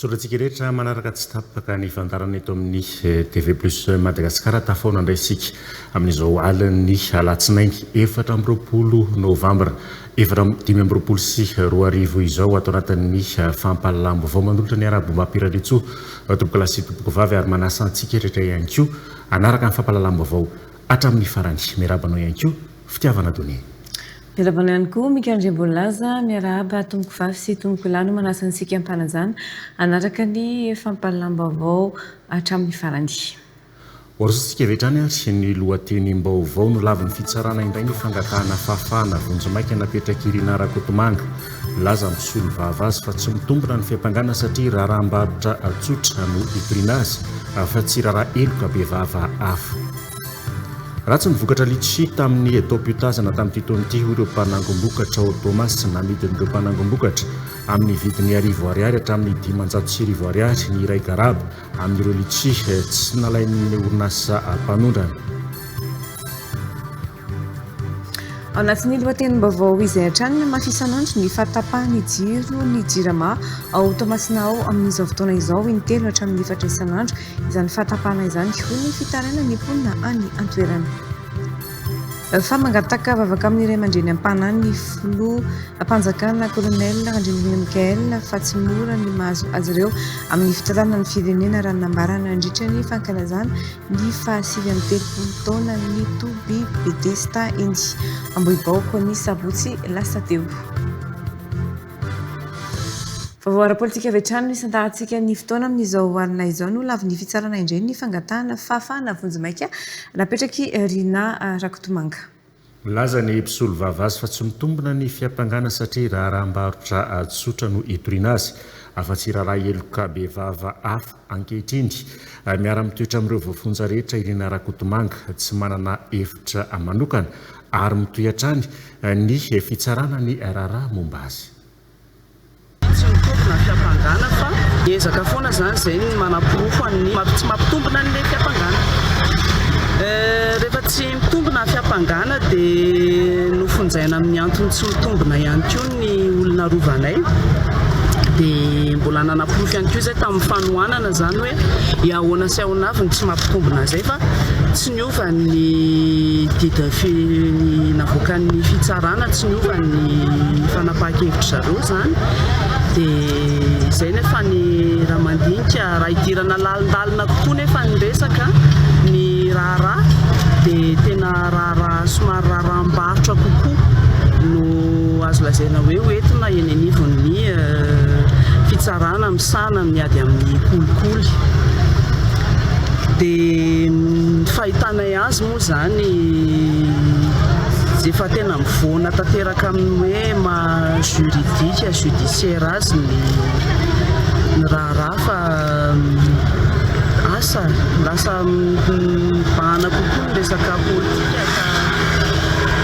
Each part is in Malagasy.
Misaotra antsika rehetra manaraka tsy tapaka ny fandarana eto amin'ny eh, TV Plus Madagasikara. Tafaona indray isika amin'izao alin'ny alatsinainy efatra amby roapolo novambra efatra dimy amby roapolo sy roa arivo izao ato anatin'ny eh, fampahalalam-baovao manolotra ny Arabo Mapiraritsoa eh, tompoko lahy sy tompoko vavy ary manasa antsika rehetra ihany koa hanaraka ny fampahalalam-baovao hatramin'ny farany. Miaraba anao ihany koa. fitiavana donné. Miarahaba anao ihany koa Mika Andriambonilaza, miarahaba tompoko vavy sy tompoko lahy no manasa antsika hampanajana hanaraka ny fampahalalam-baovao hatramin'ny farany. Hoarosantsika avy hatrany ary ny lohatenim-baovao, Nolavin'ny fitsarana indray ny fangatahana fahafahana vonjimaika napetrak'i Rinah Rakotomanga. Milaza ny mpisolovava azy fa tsy mitombina ny fiampangana satria raharaham-barotra tsotra no itoriana azy fa tsy raharaha heloka bevava hafa. Ratsy ny vokatra litchi tamin'ny etaom-piotazana tamin'ity taona ity, hoy ireo mpanangom-bokatra ao Toamasina. Namidin'ireo mpanangom-bokatra amin'ny vidiny arivo Ariary hatramin'ny dimanjato sy arivo Ariary ny iray garaba amin'ireo litchi tsy nalain'ny orinasa mpanondrana. Ao anatin'ny lohatenim-baovao izay hatrany no mafy isan'andro ny fahatapahan'ny jiro ny Jirama ao Toamasina ao amin'izao fotoana izao, in-telo hatramin'ny efatra isan'andro Izany fahatsapana izany hihony ny fitarainany ny mponina any an-toerana. Fa mangataka vavaka amin'ny ray aman-dreny am-panahy ny Filoham-panjakana Colonel Randrianirina Michael fa tsy mora ny mahazo azy ireo amin'ny fitantanana ny firenena raha ny nambarany nandritra ny fankalazana ny fahasivy amby telopolo taonan'ny toby Bedesita eny Ambohibaoko ny sabotsy lasa teo. Vaovao ara-politika avy hatrany no isantahantsika ny fotoana amin'izao alina izao. Nolavin'ny fitsarana indray ny fangatahana fahafahana vonjimaika napetrak'i Rinah Rakotomanga. Milaza ny mpisolovava azy fa tsy mitombina ny fiampangana satria raharaham-barotra tsotra no hitoriana azy, afa-tsy hiraharaha heloka bevava hafa. Ankehitriny, miara-mitoetra amin'ireo voafonja rehetra i Rinah Rakotomanga, tsy manana efitra manokana ary mitohy hatrany ny fitsarana ny raharaha momba azy. Tsy mitovy na fiampangana fa ezaka foana izany izay ny manaporofo an'ny maha tsy mampitombina an'ilay fiampangana. Rehefa tsy mitombina fiampangana dia nofonjaina amin'ny antony tsy mitombina ihany koa ny olona rovanay dia mbola nanaporofo ihany koa izay tamin'ny fanohanana izany hoe i ahoana sy ahoana avy no tsy mampitombina izay fa Niova ny dida fi navoakan'ny fitsarana, tsy niova ny fanapahan-kevitry zareo izany. Dia izay nefa ny raha mandinika, raha hidirana lalindalina kokoa nefa ny resaka, ny raharaha dia tena raharaha somary raharaham-barotra kokoa no azo lazaina hoe ho entina eny anivon'ny fitsarana. Sahanan' ny ady amin' ny kolikoly. Dia ny fahitanay azy moa izany efa tena mivoana tanteraka amin' ny hoe maha juridika, judiciaire azy ny ny raharaha fa asa lasa mibahana kokoa ny resaka politika ka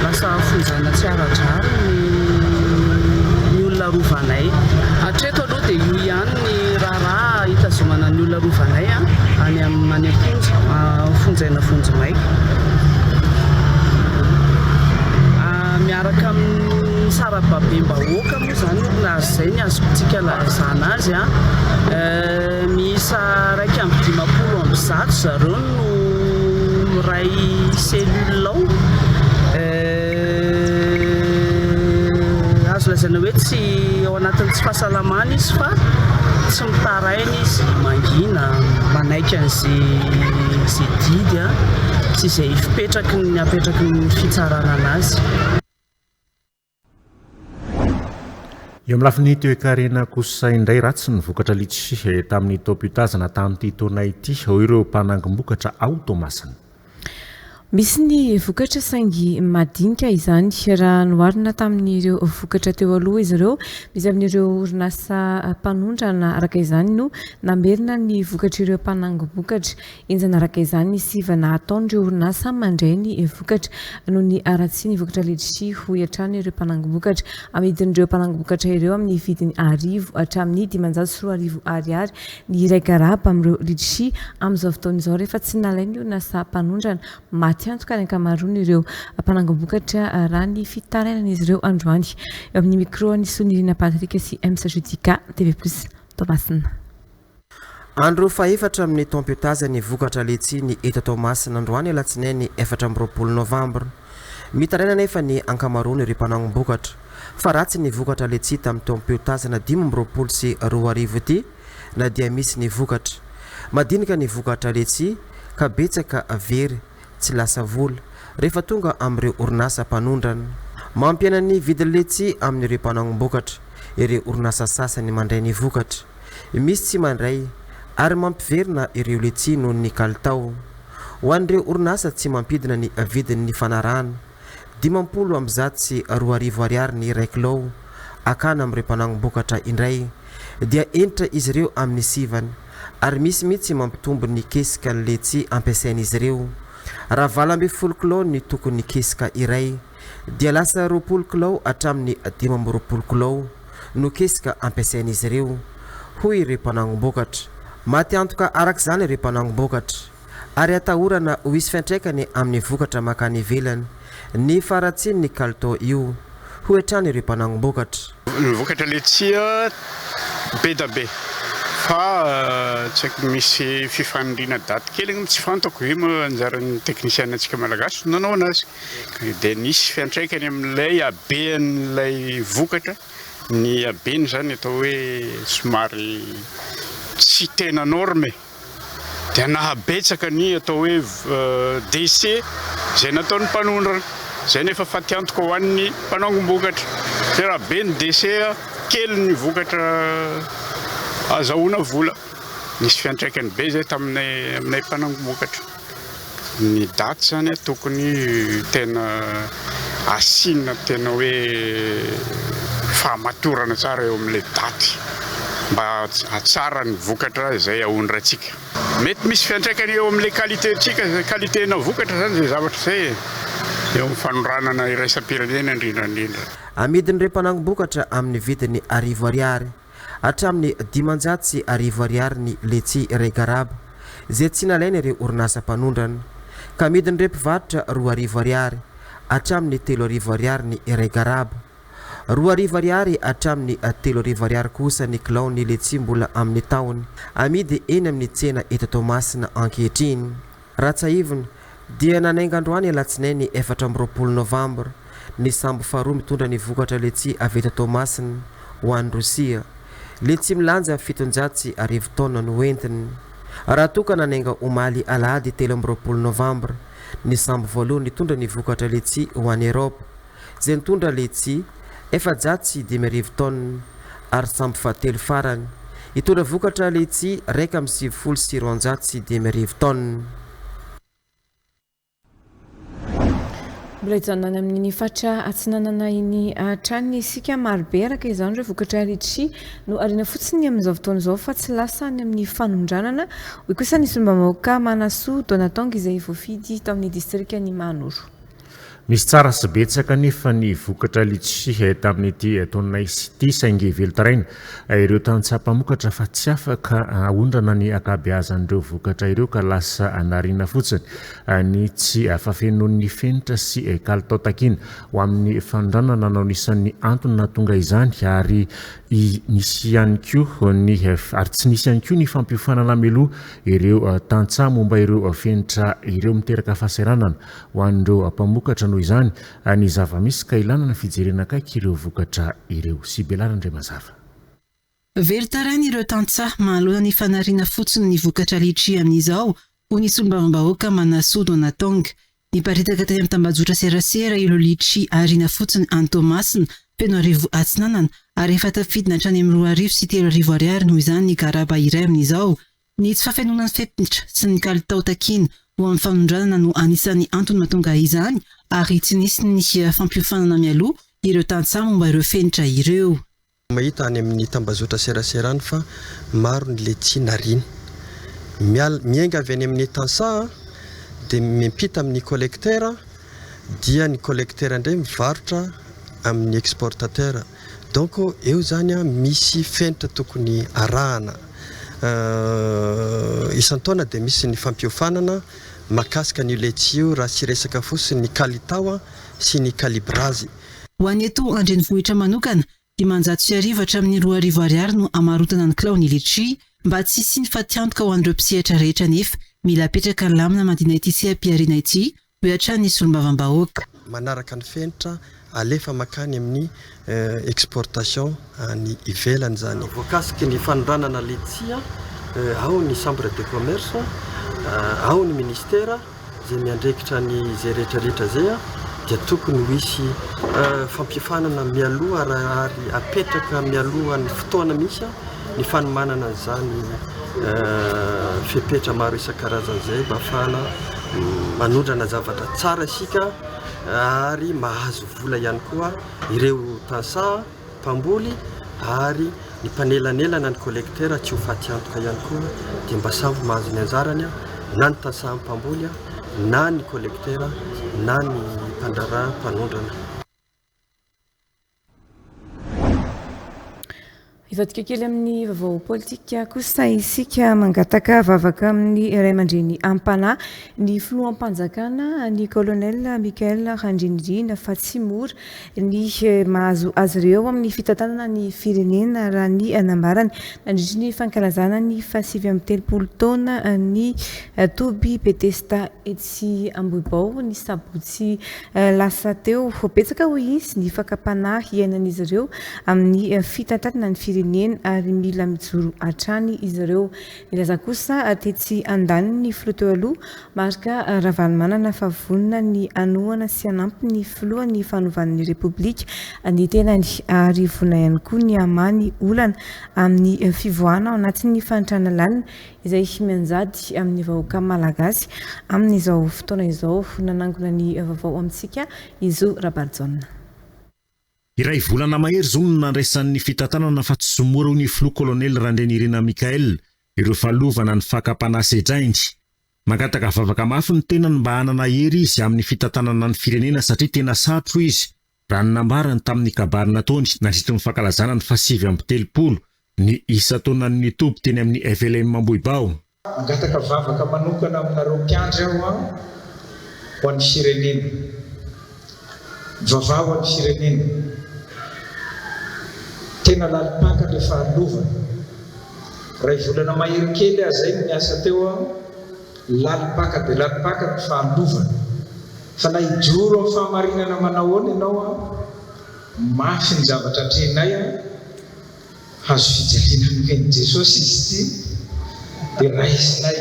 lasa hafonjana tsy ara-drariny ny olona rovanay hatreto aloha. Sao dia io ihany ny raharaha hitazomana ny olona rovanay any any am-ponja, fonjaina vonjimaika. Miaraka amin'ny sarababem-bahoaka moa izany no nahazo izay ny azontsika lazana azy. Miisa iraika amby dimampolo amby zato zareo no miray cellule ao. Azo lazaina hoe tsy ao anatin'ny tsy fahasalamana izy fa tsy mitaraina izy, mangina, manaiky an'izay didy sy izay fipetraky ny apetraky ny fitsarana anazy. Eo amin'ny lafiny toekarena kosa indray ratsy ny vokatra litchi tamin'ny taom-pitazana tamin'ity taona ity, hoy ireo mpanangom-bokatra ao Toamasina. Misy ny vokatra saingy madinika izany raha noharina tamin'ireo vokatra teo aloha izy ireo. Misy amin'ireo orinasa mpanondrana araka izany no namerina ny vokatr'ireo mpanangom-bokatra. Henjana araka izany ny sivana ataon'ireo orinasa mandray ny vokatra noho ny haratsian'ny vokatra letisia, hoy hatrany ireo mpanangom-bokatra. Amidin'ireo mpanangom-bokatra ireo amin'ny vidiny arivo hatramin'ny dimanjato sy roa arivo Ariary Ny iray garaba amin'ireo Litchi amin'izao fotoana izao rehefa tsy nalain'ny orinasa mpanondrana, maty antoka ny ankamaroan'ireo mpanangom-bokatra raha ny fitarainan'izy ireo androany. Eo amin'ny mikraon'i Sonirina Patrick sy Ems Judica, TV Plus, Toamasina. Andro fahefatra amin'ny taom-piotaza ny vokatra Litchi ny eto Toamasina androany alatsinainy efatra amby roapolo novambra. Mitaraina anefa ny ankamaroan'ireo mpanaombokatra fa ratsy ny vokatra letsy tamin'ny taom-piotazana dimy amby roapolo sy roa arivo ity na dia misy ny vokatra. Madinika ny vokatra letsy ka betsaka very tsy lasa vola rehefa tonga amin'ireo orinasa mpanondrana. Mampiaina ny vidin'ny letsy amin'ireo mpanaombokatra ireo orinasa sasany mandray ny vokatra, misy tsy mandray ary mampiverina ireo letsy noho ny kalitao. Ho an'ireo orinasa tsy mampidina ny vidiny nifanarahana, dimampolo amby zato sy roa arivo ariary ny iray kilao, akana amin'ireo mpanangom-bokatra indray dia entitra izy ireo amin'ny sivana ary misy mihitsy mampitombo ny kesika ny letsy ampiasain'izy ireo raha valo ambin'ny folo kilao ny tokon'ny kesika iray. dia lasa roapolo kilao hatramin'ny dimy amby roapolo kilao no kesika ampiasain'izy ireo, hoy ireo mpanangom-bokatra. Maty antoka araka izany ireo mpanangom-bokatra, ary atahorana ho hisy fiantraikany amin'ny vokatra mankany ivelany ny faharatsian'ny kalitao io, hoy hatrany ireo mpanangom-bokatra. Ny vokatra letsia bedabe fa tsy haiko misy fifanindriana daty kely angamba tsy fantako ve moa anjaran'ny technician antsika malagasy no nanao anazy dia nisy fiantraikany amin'ilay habean'ilay vokatra ny habeny izany atao hoe somary tsy tena norme. dia nahabetsaka ny atao hoe décès izay nataon'ny mpanondrana. Izay no efa fatiantoka ho an'ny mpanao angom-bokatra. Fa raha be ny décès, kely ny vokatra azahoana vola. Nisy fiantraikany be izay taminay aminay mpanangom-bokatra. Ny daty zany a tokony tena asiana tena hoe fahamatorana tsara eo amin'ilay daty mba hahatsara ny vokatra izay aondratsika. Mety misy fiantraikany eo amin'ilay qualité-ntsika, izay qualité-na vokatra izany izay zavatra izay e. Eo amin'ny fanondranana iraisam-pirenena indrindra indrindra. Amidin'ireo mpanangom-bokatra amin'ny vidiny arivo ariary. hatramin'ny dimanjato sy arivo ariary ny letchi Regarab, izay tsy nalain'ireo orinasa mpanondrana, ka amidin'ireo mpivarotra roa arivo ariary hatramin'ny telo arivo ariary ny Regarab. Roa arivo ariary hatramin'ny telo arivo ariary kosa ny kilaon'ny letchi mbola amin'ny tahony, amidy eny amin'ny tsena eto Toamasina ankehitriny. Ratsahivina, dia nanainga androany alatsinainy efatra amby roapolo novambra ny sambo faharoa mitondra ny vokatra letsia avy eto Toamasina ho any Rosia. Letsia milanja fitonjato sy arivo taonina no hoentiny. Raha toa ka nanainga omaly alahady telo amby roapolo novambra ny sambo voalohany nitondra ny vokatra letsia ho any Eropa, izay nitondra letsy efajato sy dimy arivo tonnes ary sambo fahatelo farany hitondra vokatra letsy iraika amby sivifolo sy roanjato sy dimy arivo tonnes. Mbola hijanona any amin'ny faritra Atsinanana iny hatrany isika. Marobe araka izany ireo vokatra litchi no ariana fotsiny amin'izao fotoana izao fa tsy lasa any amin'ny fanondranana, hoy kosa ny solombavambahoaka Manasoa Donatong izay voafidy tao amin'ny distrikan'i Mahanoro. Misy tsara sy betsaka anefa ny vokatra Litchi tamin'ity taona ity saingy velon-taraina ireo tantsaha mpamokatra fa tsy afaka haondrana ny ankabeazan'ireo vokatra ireo ka lasa anariana fotsiny ny tsy fafenoan'ny fenitra sy kalitao takiana ho amin'ny fanondranana no anisan'ny antony nahatonga izany ary nisy ihany koa ny ary tsy nisy ihany koa ny fampiofanana mialoha ireo tantsaha momba ireo fenitra ireo miteraka fahasahiranana Ho an'ireo mpamokatra noho izany ny zava-misy ka ilana ny fijerena akaiky ireo vokatra ireo. Sibela Randriamazava. Velon-tarain'ireo tantsaha mahaloana ny fanariana fotsiny ny vokatra litchi amin'izao, hoy ny solombavambahoaka Manasoa Donatong. Niparitaka teny amin'ny tambajotran-tserasera ireo litchi ariana fotsiny any Toamasina, Fenoarivo Atsinanana, ary efa tafidina hatrany amin'ny roa arivo sy telo arivo ariary noho izany ny garaba iray amin'izao. Ny tsy fahafenoanan'ny fepetra sy ny kalitao takiana ho amin'ny fanondranana no anisan'ny antony mahatonga izany ary tsy nisy ny fampiofanana mialoha ireo tantsaha momba ireo fenitra ireo. Mahita any amin'ny tambazotra serasera any fa maro ny letchi nariana. Miala, miainga avy any amin'ny tantsaha dia miampita amin'ny collecteur dia ny collecteur indray mivarotra amin'ny exportateur. Donc eo izany an misy fenitra tokony arahana. Isan-taona dia misy ny fampiofanana makasika an'io letchi io raha tsy resaka fotsiny ny kalitao an sy ny kalibrazy. Ho an'ny eto an-drenivohitra manokana, dimanjato sy arivo hatramin'ny roa arivo ariary no amarotana ny kilao ny letchi. Mba tsy hisian'ny fatiantoka ho an'ireo mpisehatra rehetra anefa, mila apetraka lamina mandina ity seha-pihariana ity Hoy hatrany ny solombavambahoaka. Manaraka ny fenitra alefa mankany amin'ny exportation any ivelany izany. Voakasiky ny fanondranana letchia ao ny Chambre de Commerce, ao ny Ministera izay miandrekitra ny izay rehetrarehetra izay dia tokony ho hisy fampiofanana mialoha ary apetraka mialoha ny fotoana mihitsy. ny fanomanana an'izany fepetra maro isan-karazany izay mba hahafahana manondrana zavatra tsara isika ary mahazo vola ihany koa ireo tantsaha mpamboly ary ny mpanelanelana ny collecteur tsy ho faty antoka ihany koa dia mba samy mahazo ny anjarany na ny tantsaha mpamboly na ny collecteur na ny mpandraharaha mpanondrana. Hivadika kely amin'ny vaovao politika kosa isika mangataka vavaka amin'ny iray aman-dreny ampanahy ny filoham-panjakana ny colonel Michael Randrianirina fa tsy mora ny eh, mahazo azy ireo amin'ny fitantanana ny firenena raha ny anambarany nandritry ny fankalazana ny fahasivy amin'ny telopolo taona ny eh, toby Betesta etsy Ambohibao ny sabotsy Lasa teo ho betsaka hoy izy ny fakam-panahy iainan'izy ireo amin'ny fitantanana ny firenena ary mila mijoro hatrany izy ireo. Nilaza kosa tetsy andaniny ny filoha teo aloha, Marc Ravalomanana fa vonona ny hanohana sy hanampy ny filohan'ny fanovan'ny Repoblika ny tenany ary vonona ihany koa ny hamaha ny olana amin'ny fivoahana ao anatin'ny fahantrana lalina izay mianjady amin'ny vahoaka malagasy amin'izao fotoana izao, nanangona ny vaovao amintsika i Zo Rabarijaona. Iray volana mahery izao no nandraisan'ny fitantanana fa tsy mora hoy ny Filoha Kolonely Randrianirina Michael ireo fahalovana ny fakam-panahy sedrainy. Mangataka vavaka mafy ny tenany mba hanana hery izy amin'ny fitantanana ny firenena satria tena sarotra hoy izy Raha ny nambarany tamin'ny kabary nataony nandritry ny fankalazana ny fahasivy amby telopolo ny isan-taonan'ny toby teny amin'ny FLM Ambohibao, Mangataka vavaka manokana aminareo mpiandry aho an, ho an'ny firenena. Mivavaha ho an'ny firenena. Tena lalim-paka le fahalovana. Iray volana mahery kely aho zay no niasa teo an. Lalim-paka dia lalim-paka ny fahalovana. Fa na hijoro amin'ny fahamarinana manahoana ianao an, mafy ny zavatra atrehinay an, hazo fijaliana nomen'i Jesosy izy ity, dia raisinay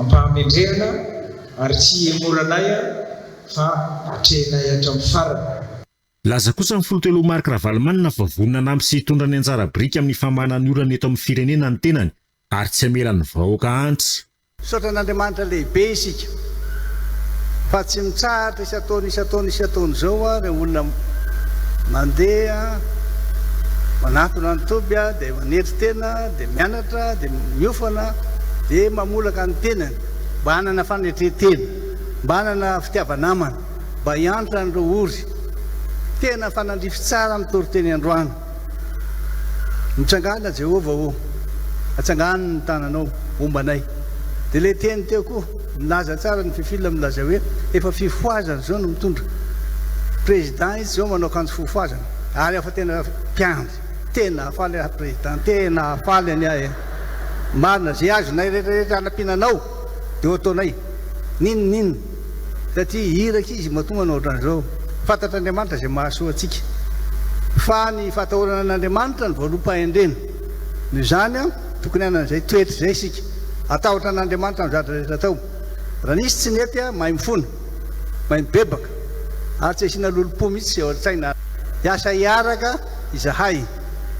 am-pahamendrehana ary tsy hihemoranay an, fa atrehinay hatramin'ny farany. Nilaza kosa ny Filoteloha Marc Ravalomanana fa vonona hanampy sy hitondra ny anjara biriky amin'ny famanana ny orana eto amin'ny firenena ny tenany, Ary tsy hamela ny vahoaka hanitra. Misaotra an'Andriamanitra lehibe isika fa tsy mitsahatra isan-taona isan-taona isan-taona izao a, ireo olona mandeha manatona ny toby a, dia manetry tena, dia mianatra, dia miofana, dia mamolaka ny tenany mba hanana fanetren-tena, mba hanana fitiava-namana, mba hiantra an'ireo ory. Tena fanandrify tsara ny toriteny androany. Mitsangàna Jehovah ô, atsangano ny tananao momba anay. Dia ilay teny teo koa, milaza tsara ny fifilm milazay hoe efa fifohazana izao no mitondra. Président izy izao manao akanjo fofohazana ary afa tena mpiandry. Tena hahafaly ahy président, tena hahafaly anie ahy e. Marina, ze azonay rehetra rehetra anampiana anao dia ho ataonay. Ninn ninn. satria iraka izy matoa manao ohatran'izao. Fantatr'Andriamanitra izay mahasoa antsika. Fa ny fahatahorana an'Andriamanitra no voaloam-pahendrena. Noho izany, tokony hanana izay toetra izay isika. Hatahotra an'Andriamanitra amin'ny zavatra rehetra atao. Raha nisy tsy nety, mahay mifona, mahay mibebaka, ary tsy asiana lolompo mihitsy sy aorin-tsaina. Hiasa hiaraka izahay.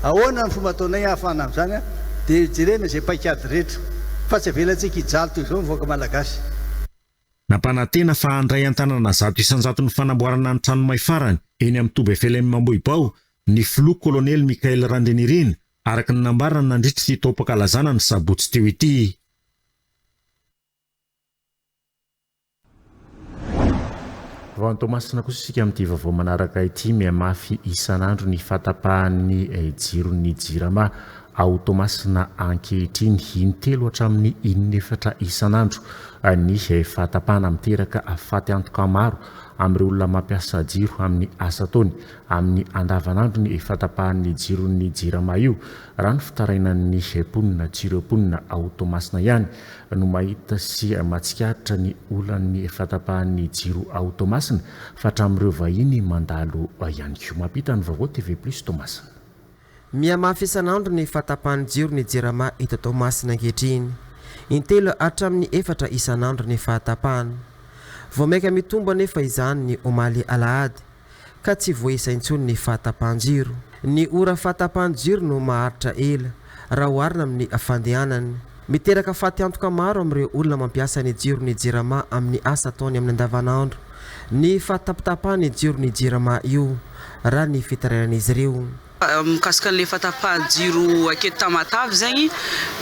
Ahoana no fomba ataonay hahafahana amin'izany? Dia jerena izay paik'ady rehetra. Fa tsy avelantsika hijaly toy izao ny vahoaka malagasy. Nampanantena fa handray an-tanana zato isan-jato ny fanamboarana ny trano may farany eny amin'ny toby FLM Ambohibao ny filoha kolonely Michael Randrianirina, araka ny nambarany nandritra ity taom-pankalazana ny sabotsy teo ity. Vao any Toamasina kosa isika amin'ity vaovao manaraka ity, mihamafy isan'andro ny fahatapahan'ny jiron'ny Jirama Ao Toamasina ankehitriny, in-telo hatramin'ny in-efatra isan'andro ny fahatapahana miteraka faty antoka maro amin'ireo olona mampiasa jiro amin'ny asa ataony amin'ny andavanandrony io fahatapahan'ny jiron'ny Jirama io, raha ny fitarainan'ny mponina. Tsy ireo mponina ao Toamasina ihany no mahita sy mahatsikaritra ny olan'ny fahatapahan'ny jiro ao Toamasina fa hatramin'ireo vahiny mandalo ihany koa. Mampita ny vaovao TV Plus Toamasina. Mihamafy isan'andro ny fahatapahan'ny jiro ny Jirama eto Toamasina ankehitriny. Intelo hatramin'ny efatra isan'andro ny fahatapahana. Vao mainka mitombo anefa izany ny omaly alahady, ka tsy voaisa intsony ny fahatapahan-jiro. Ny ora fahatapahan'ny jiro no maharitra ela, raha oharina amin'ny fandehanany. Miteraka fatiantoka maro amin'ireo olona mampiasa ny jiro ny Jirama amin'ny asa ataony amin'ny andavanandro. Ny fahatapatapahan'ny jiro ny Jirama io, raha ny fitarainan'izy ireo. Mikasika an'ilay fahatapahan'ny jiro aketo Tamatave zegny,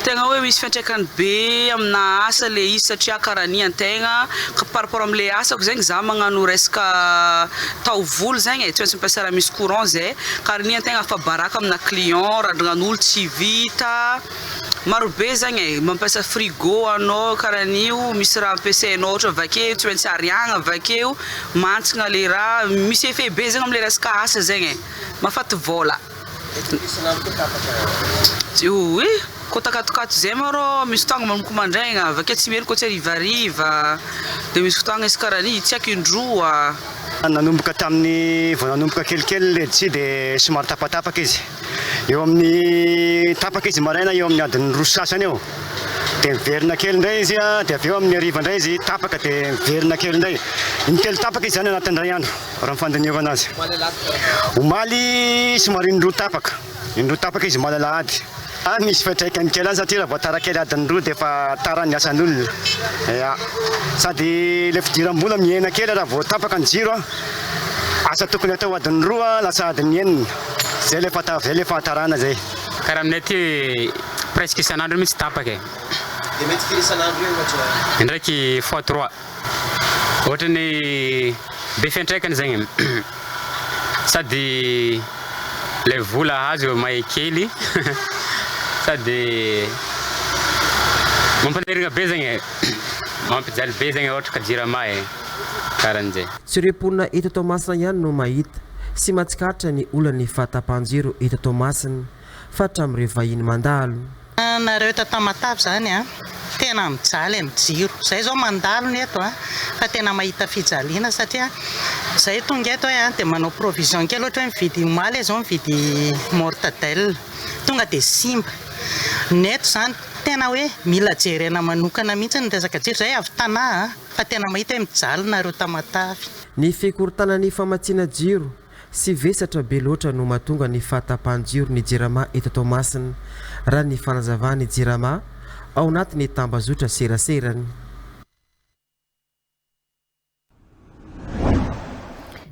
tegna hoe misy fiantraikany be aminà asa le izy satria karanian tegna ka par rapport am'le asako zegny za magnano resaka taovolo zegny e, tsy maintsy mampiasa raha misy courant zay, karanian-tegna afa-baraka aminà client, randrignan'olo tsy vita. Maro be zagny e, mampiasa frigo anao karaha an'io, misy raha ampiasainao ohatra vakeo tsy maintsy ariagna vakeo, mantsigna le raha, misy effet be zagny amle resaka asa zegny e, mahafaty vôla. Oy, koa takatokato zay ma rô misy fotoagna manomboka mandraigna avakeo tsy mierigny koa tsy harivariva, de misy fotoagna izy karaha an'io tsy aiko indroa. Nanomboka tamin'ny vao nanomboka kelikely led-tsy dia somary tapatapaka izy. Eo amin'ny tapaka izy maraina eo amin'ny adin'ny roa sy sasany eo. Dia miverina kely indray izy dia avy eo amin'ny hariva indray izy tapaka dia miverina kely indray. Intelo tapaka izy izany anatin'ny iray andro raha ny fandinihovana azy. Omaly somary indroa tapaka. Indroa tapaka izy omaly alahady. Ah, misy fiantraikany kely any satria raha vao tara kely adin'ny roa dia efa tara ny asan'olona. Ya. Sady ilay fidiram-bola mihena kely raha vao tapaka ny jiro. Asa tokony atao adin'ny roa lasa adin'ny enina. Zay le fanta zay le fahantarana zay. Karaha aminay aty presque isan'andro mihitsy tapaka e. Dia mety firy isan'andro eo ohatra? Indraiky fois trois. Ohatran'ny be fiantraikany zegny e. Sady ilay vola azo may kely sady mampanirigna be zegny e. Mampijaly be zegny ohatra ka jirama e. Karan'jay. Tsy ireo mponina eto Toamasina ihany no mahita. sy mahatsikaritra ny olan'ny fahatapahan-jiro eto Toamasina faritra amin'ireo vahiny mandalo. Nareo eto Tamatave zany a, tena mijaly amin'ny jiro. Zay zao mandalo ny eto a, fa tena mahita fijaliana satria zay tonga eto a dia manao provision kely ohatra hoe mividy omaly aho zao mividy mortadelle, tonga dia simba. Ny eto zany tena hoe mila jerena manokana mihitsy ny resaka jiro, zay avy Tana a, fa tena mahita hoe mijaly nareo Tamatave. Ny fikorontanan' ny famatsiana jiro sy vesatra be loatra no mahatonga ny fahatapahan-jiro ny Jirama eto Toamasina, raha ny fanazavan' ny Jirama ao anatin' ny tambazotra seraserany.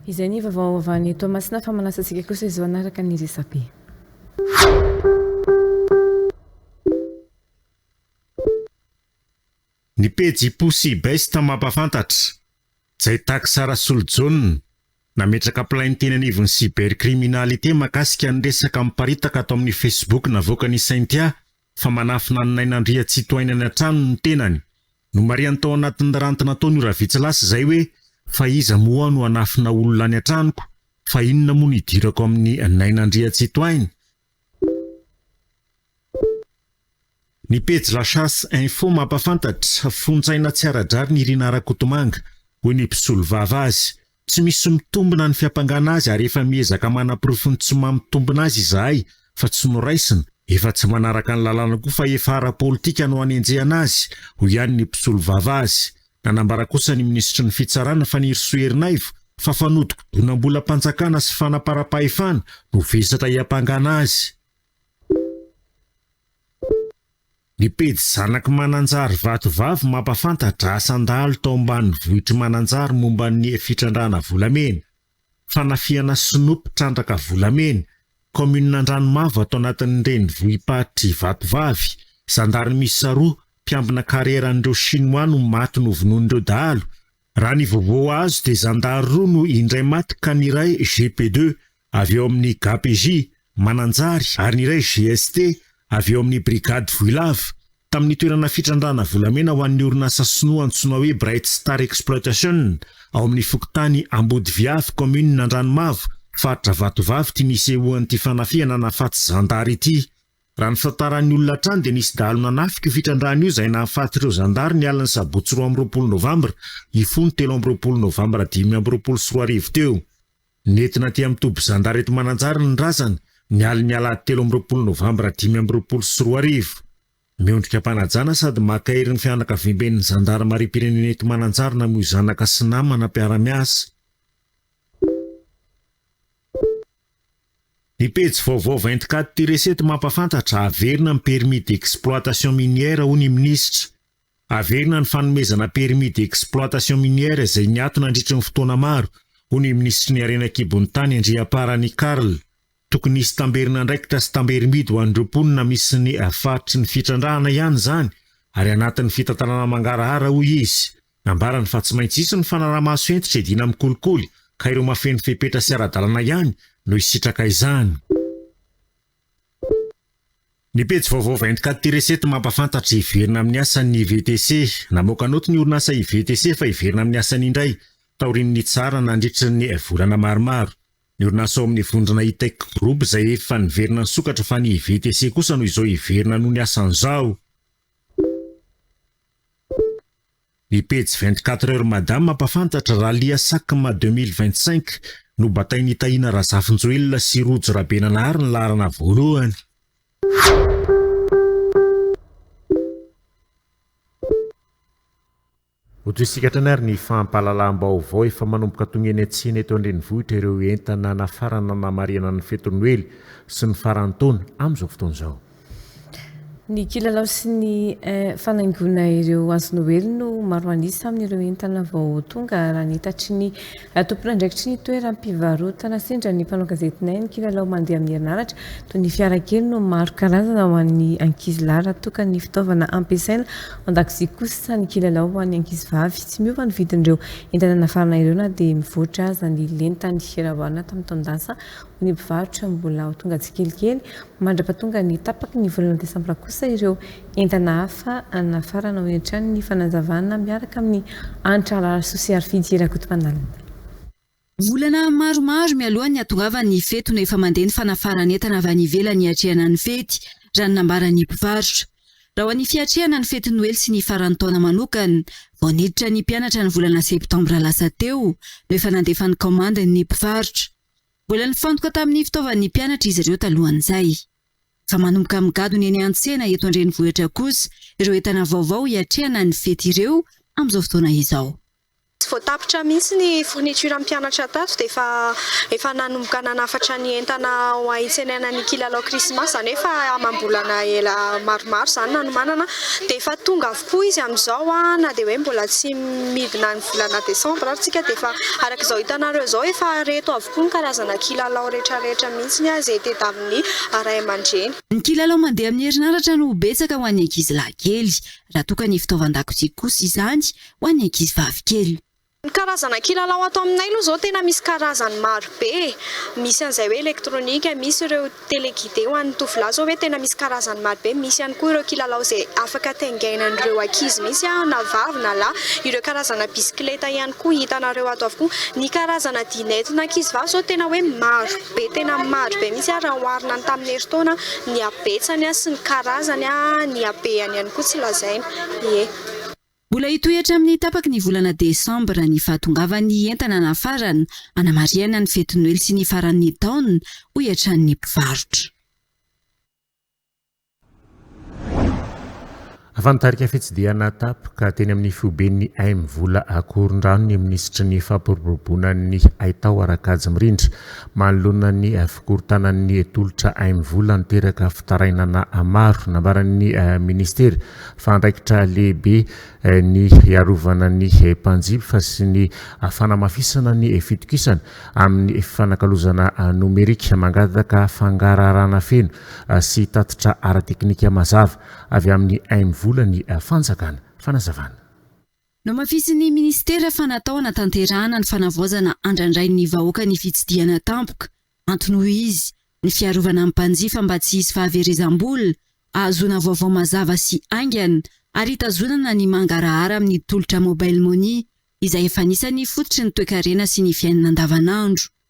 Izay ny vaovao avy any Toamasina fa manasa antsika kosa izao hanaraka ny resabe. Ny pejy Pussy Best mampahafantatra. Jaitax Rasolojaona, nametraka plainteny anivon'ny cybercriminalité mahakasika ny resaka miparitaka ato amin'ny Facebook navoakan'i Cynthia fa manafina an'i Naina Andriatsitohaina any an-tranony ny tenany. Nomarihany tao anatin'ny ranty nataony ora vitsy lasa izay hoe, Fa iza moa aho no hanafina olona any an-tranoko? Fa inona moa no hidirako amin'i Naina Andriatsitohaina? Ny pejy La Chasse Info mampahafantatra, Fonjaina tsy ara-drariny i Rinah Rakotomanga, hoy ny mpisolovava azy. Tsy misy mitombina ny fiampangana azy ary efa miezaka manaporofo ny tsy maha mitombina azy izahay fa tsy noraisina, efa tsy manaraka ny lalàna koa fa efa ara-politika no anenjehana azy, hoy ihany ny mpisolovava azy. Nanambara kosa ny minisitry ny Fitsarana, Fanirisoa Erinaivo, fa fanodikodinam-bolam-panjakana sy fanaparam-pahefana no vesatra hiampangana azy. Ny pejy Zanak'i Mananjary Vatovavy mampahafantatra asan-dahalo tao ambanivohitr'i Mananjary momba ny fitrandrahana volamena, fanafihana sinoa mpitrandraka volamena, kaominina Andranomavo ato anatin'ny renivohi-paritry Vatovavy, zandary miisa roa mpiambina karieran'ireo Shinoa no maty novonoin'ireo dahalo, Raha ny vaovao azo dia zandary roa no indray maty ka ny iray GP deux avy ao amin'ny gapj Mananjary ary ny iray GST avy ao amin'ny brigady Vohilava tamin'ny toerana fitrandrahana volamena ho an'ny orinasa sinoa antsoina hoe Bright Star Exploitation ao amin'ny fokontany Ambodiviavy kaominina Andranomavo faritra Vatovavy ity nisehoan'ity fanafihana nahafaty zandary ity. Raha ny fitantaran'ny olona hatrany dia nisy dahalo nanafika io fitrandrahana io izay nahafaty ireo zandary ny alin'ny sabotsy roa amby roapolo novambra hifoha ny telo amby roapolo novambra dimy amby roapolo sy roa arivo teo. Nentina aty amin'ny toby zandary eto Mananjary ny razana ny alin'ny alahady telo amby roapolo novambra dimy amby roapolo sy roa arivo. Miondrika am-panajana sady maka hery ny fianakaviamben'ny zandarimariam-pirenena eto Mananjary namoy zanaka sy namana mpiara-miasa. Ny pejy vaovao vingt quatre du Reset mampahafantatra, averina ny permis d'exploitation minière hoy ny minisitra. Averina ny fanomezana permis d'exploitation minière izay niato nandritry ny fotoana maro, hoy ny minisitry ny harena an-kibon'ny tany Andriamparany Carl. Tokony hisy tamberin'andraikitra sy tamberim-bidy ho an'ireo mponina misy ny faritry ny fitrandrahana ihany izany ary anatin'ny fitantanana mangarahara, hoy izy. Nambarany fa tsy maintsy hisy ny fanaraha-maso hentitra hiadiana amin'ny kolikoly ka ireo mahafeno fepetra sy ara-dalana ihany no hisitraka izany. Ny pejy vaovao vingt quatre tiret sept mampahafantatra hiverina amin'ny asany ny IVTC. Namoaka naoty ny orinasa IVTC fa hiverina amin'ny asany indray taorian'ny nitsarana nandritry ny volana maromaro ny orinasa ao amin'ny vondrona Itech Group izay efa niverina nisokatra fa ny IVTC kosa no izao hiverina noho ny asany izao. Ny pejy vingt quatre heures mada mampafantatra, Rallia Sacma deux mille vingt cinq, Nobatain'i Tahina Razafinjoelina sy Rojo Rabenanahary ny laharana voalohany. Ho toy isika hatrany ary ny fampahalalam-baovao efa manomboka tonga eny an-tsena eto an-drenivohitra ireo entana nafarana hanamarihana ny fetin'ny noely sy ny faran'ny taona amin'izao fotoana izao. Ny kilalao sy ny fanaingoana ireo hazonoely no maro an'isa amin'ireo entana vao tonga raha ny hitatry ny tompon'andraikitry ny toeram-pivarotana sendra ny mpanao gazetinay ny kilalao mandeha amin'ny herinaratra toy ny fiarakely no maro karazana ho an'ny ankizy lahy raha toa ka ny fitaovana ampiasaina ao an-dakozia kosa ny kilalao ho an'ny ankizy vavy. Tsy miova ny vidin'ireo entana nafarana ireo na dia mivoatra aza ny lenta nihiraoana tamin'ny taon-dasa ny mpivarotra mbola ho tonga tsikelikely mandra-pahatonga ny tapaky ny volana desambra kosa ireo entana hafa nafarana, hoy hatrany ny fanazavana miaraka amin'ny Hanitra Arasoa sy Harifidy Rakotomanalina. Volana maromaro mialoha ny hatongavan'ny fety no efa mandeha ny fanafaran'entana avy any ivelany hiatrehana ny fety, raha ny nambaran'ny mpivarotra. Raha ho an'ny fiatrehana ny fetin'ny Noely sy ny faran'ny taona manokana, vao niditra ny mpianatra ny volana septambra lasa teo no efa nandefa ny kaomandiny ny mpivarotra. Mbola nifantoka tamin'ny fitaovan'ny mpianatra izy ireo talohan'izay. Efa manomboka migadona eny an-tsena eto an-drenivohitra kosa ireo entana vaovao hiatrehana ny fety ireo amin'izao fotoana izao. Tsy vao tapitra mihitsy ny fourniture mpianatra tato dia efa efa nanomboka nanafatra ny entana ho ahitsenana ny kilalao krismasy, izany hoe efa amam-bolana ela maromaro izany nanomanana dia efa tonga Hoy izy amin'izao, Na dia hoe mbola tsy midina ny volana desambra ary tsika dia efa, araka izao hitanareo izao, efa reto avokoa ny karazana kilalao rehetrarehetra mihitsy ary izay tedavin'ny ray aman-dreny. Ny kilalao mandeha amin'ny herinaratra no betsaka ho an'ny ankizy lahy kely, raha toa ka ny fitaovan-dakozia kosa izany ho an'ny ankizy vavy kely. Ny karazana kilalao ato aminay aloha izao tena misy karazany maro be e! Misy an'izay hoe elektronika, misy ireo téléguidé ho an'ny tovolahy izao hoe tena misy karazany maro be, misy ihany koa ireo kilalao izay afaka taingainan'ireo ankizy mihitsy an, na vavy na lahy, ireo karazana bisikileta ihany koa hitanareo ato avokoa. Ny karazana dihy nentina ankizivavy izao tena hoe maro be, tena maro be mihitsy an, raha oharina ny tamin'ny herintaona, ny habetsany sy ny karazany an, ny habehany ihany koa tsy lazaina, ie. Mbola hitohy hatramin'ny tapaky ny volana desambra ny fahatongavan'ny entana nafarana, hanamarihana ny fety noely sy ny faran'ny taona, hoy hatrany ny mpivarotra. Efa nitarika fitsidihana tapoka teny amin'ny foiben'ny aim vola Ankorondrano ny minisitry ny fampiroboroboana ny haitao Rakajy Mirindra manoloana ny fikorontanan'ny tolotra aim vola niteraka fitarainana maro. Nambaran'ny minisitera fa andraikitra lehibe ny hiarovana ny mpanjifa sy ny fanamafisana ny fitokisana amin'ny fifanakalozana nomerika, mangataka fangaraharana feno sy tatitra ara-teknika mazava avy amin'ny aim-volan'ny fanjakana. Fanazavana. Nohamafisin'ny minisitera fa natao hanatanterahana ny fanavaozana andrandrain'ny vahoaka ny fitsidihana tampoka. Antony hoy izy, ny fiarovana ny mpanjifa mba tsy hisy fahaverezam-bola, ahazoana vaovao mazava sy haingana ary hitazonana ny mangarahara amin'ny tolotra Mobile Money izay efa anisan'ny fototry ny toekarena sy ny fiainana andavanandro.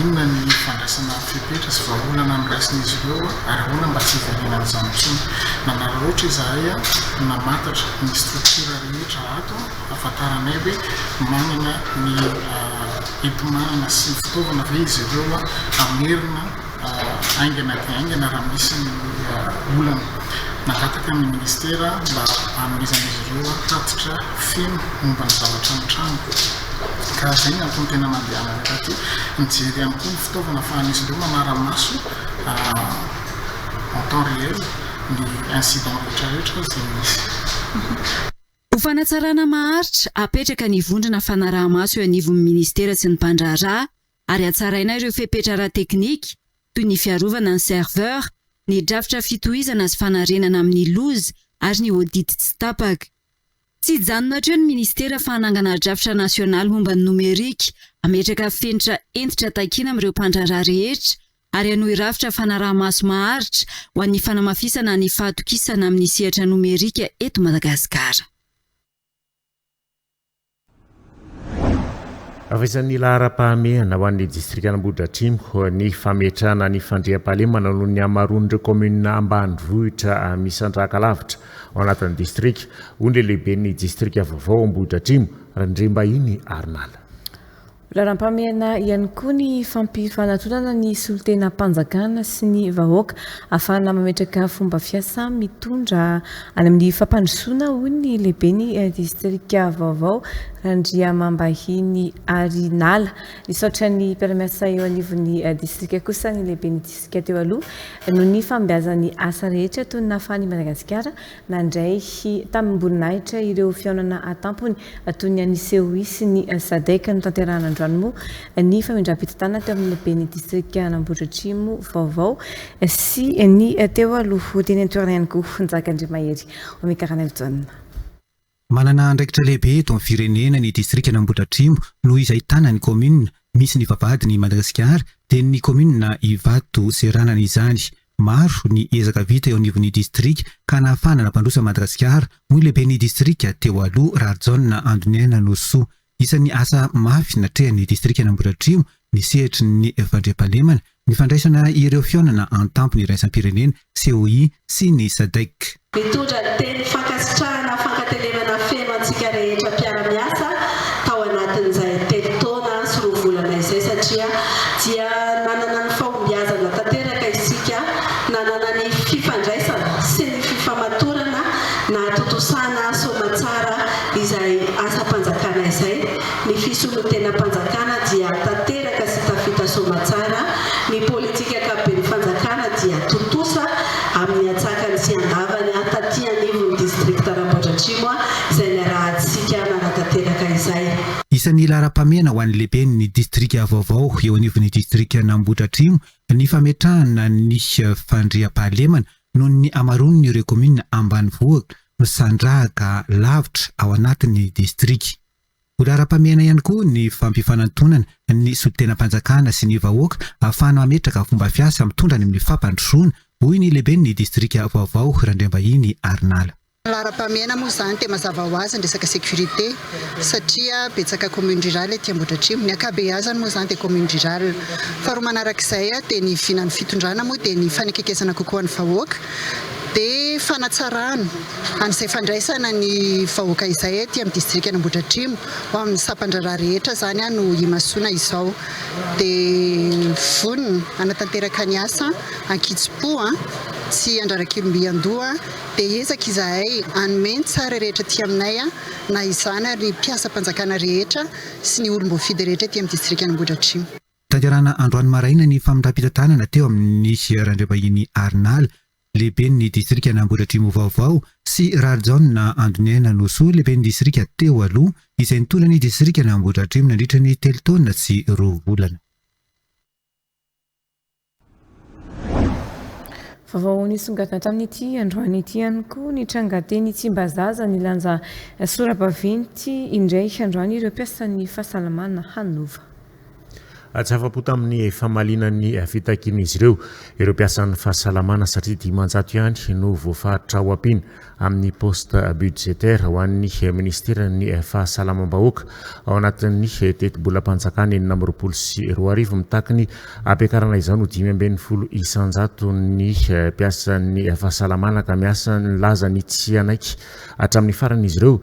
inona ny fandraisana fepetra sy vahaolana noraisin'izy ireo ary ahoana mba tsy hivaliana an'izany intsony. Nanararaotra izahay namantatra ny structure rehetra ato hafantaranay hoe manana ny enti-manana sy ny fitaovana ve izy ireo hamerina haingana dia haingana raha misy ny olana. Nangataka ny minisitera mba hanomezan'izy ireo tatitra feno momba ny zavatra ny tranoko, ka izay no antony tena nandehanany rahateo. Nijery ihany koa ny fitaovana ahafahan'izy ireo manara-maso en temps réel ny incident rehetrarehetra izay misy. Ho fanatsarana maharitra, hapetraka ny vondrona fanaraha-maso eo anivon'ny minisitera sy ny mpandraharaha, ary hatsaraina ireo fepetra ara-teknika toy ny fiarovana ny serveur, ny drafitra fitohizana sy fanarenana amin'ny loza ary ny audit tsy tapaka. Tsy hijanona hatreo ny Ministera fa hanangana drafitra nasionaly momba ny nomerika hametraka fenitra hentitra takiana amin'ireo mpandraharaha rehetra ary hanohy rafitra fanaraha-maso maharitra ho an'ny fanamafisana ny fahatokisana amin'ny sehatra nomerika eto Madagasikara. Avezan'ny laharam-pahamehana ho an'ny distrikan'Ambohidratrimo ny fametrahana ny fandriampahalemana noho ny hamaroan'ireo kaominina ambanivohitra misandrahaka lavitra ao anatin'ny distrika, hoy ny lehiben'ny distrika vaovao Ambohidratrimo, Randriambahiny Arnal. Lalam-pahamehana ihany koa ny fampifanatronana ny solontenam-panjakana sy ny vahoaka ahafahana mametraka fomba fiasa mitondra any amin'ny fampandrosoana, hoy ny lehiben'ny distrika vaovao, Randriamambahiny Hary Nala. Nisaotra ny mpiara-miasa eo anivon'ny distrika kosa ny lehiben'ny distrika teo aloha noho ny fahombiazan'ny asa rehetra toy ny nahafahan'i Madagasikara Nandray tamim-boninahitra ireo fihaonana an-tampony toy ny an'i Seoul sy ny Sadec notanterahana androany moa ny famindram-pitantanana teo amin'ny ben'ny distrikan'Ambohidratrimo vaovao sy ny teo aloha teny an-toerana ihany koa Njakandriamahery Omikaranelson. Manana andraikitra lehibe eto amin'ny firenena ny distrikan'Ambohidratrimo noho izy ahitana ny kaominina misy ny vavahadin' i Madagasikara dia ny kaominina Ivato seranana izany. Maro ny ezaka vita eo anivon'ny distrika ka nahafahana nampandroso an'i Madagasikara, hoy ny lehiben'ny distrika teo aloha, Rahajaona Andoniaina Norisoa. Isan'ny asa mafy natrehan'ny distrikan'Ambohidratrimo ny sehatry ny fandriampahalemana, ny fandraisana ireo fihaonana an-tampony iraisam-pirenena, COI, sy ny Sadec. Nitondra ny teny fankasitrahana fankatenenana feno antsika rehetra mpiara-miasa tao anatin'izay telo taona sy roa volana izay satria dia nanana ny fahombiazana tanteraka isika nanana ny fifandraisana sy ny fifamatorana nahatontosana soamantsara izay asam-panjakana izay, ny fisolontenam-panjakana dia tanteraka sy tafita soamatsara, ny politika ankapoben'ny fanjakana dia tontosa amin'ny antsakany sy andavany taty anivon'ny distrikta Ramboadratrimo izay niarahantsika nanatanteraka izay. Isan'ny laharam-pahamehana ho an'ny lehiben'ny distrika vaovao eo anivon'ny distrikan'Ambohidratrimo ny fametrahana ny fandriampahalemana Noho ny hamaroany ireo kaominina ambanivohitra misandrahaka lavitra ao anatin'ny distrika. Ho laharam-pahamehana ihany koa ny fampifanantonana ny solontenam-panjakana sy ny vahoaka ahafahana mametraka fomba fiasa mitondra any amin'ny fampandrosoana, hoy ny lehiben'ny distrika vaovao, Randriambahiny Arnala. Laharam-pahamehana moa izany dia mazava ho azy ny resaka sécurité satria betsaka commune rurale ety Ambohidratrimo. Ny ankabeazany moa izany dia commune rurale. Faharoa manaraka izay dia ny vinan'ny fitondrana moa dia ny fanekekesana kokoa ny vahoaka dia fanatsarana an'izay fandraisana ny vahoaka izay ety amin'ny distrikan' Ambohidratrimo ho amin'ny sampan-draharaha rehetra izany no imasoana izao dia vonona hanatanteraka ny asa an-kitsim-po tsy handrara-kilom-by an-doha dia hiezaka izahay hanome ny tsara rehetra aty aminay, na izany ary ny mpiasam-panjakana rehetra sy ny olom-boafidy rehetra aty amin'ny distrikan'Ambohidratrimo. Tanterahana androany maraina ny famindram-pitantanana teo amin'ny Sieur Andriambahiny Arnala, lehiben'ny distrikan' Ambohidratrimo vaovao, sy Rarijaona Andoniaina Nosoa, lehiben'ny distrika teo aloha, izay nitondra ny distrikan' Ambohidratrimo nandritra ny telo taona sy roa volana. Vaovao nisongadina tamin'ity androany ity ihany koa ny tranga teny Tsimbazaza nilanja sora-baventy indray androany ireo mpiasan'ny fahasalamana hanova. Atsahafam-po tamin'ny famaliana ny fitakian'izy ireo ireo mpiasan'ny fahasalamana satria dimanjato ihany no voafaritra ao am-pin amin'ny poste budgétaire ho an'ny Minisiteran'ny Fahasalamam-bahoaka ao anatin'ny tetibolam-panjakana enina amby roapolo sy roa arivo. Mitaky ny hampiakarana izao no dimy ambin'ny folo isan-jato ny mpiasan'ny fahasalamana ka miasa ny lazany tsy hanaiky hatramin'ny farany izy ireo.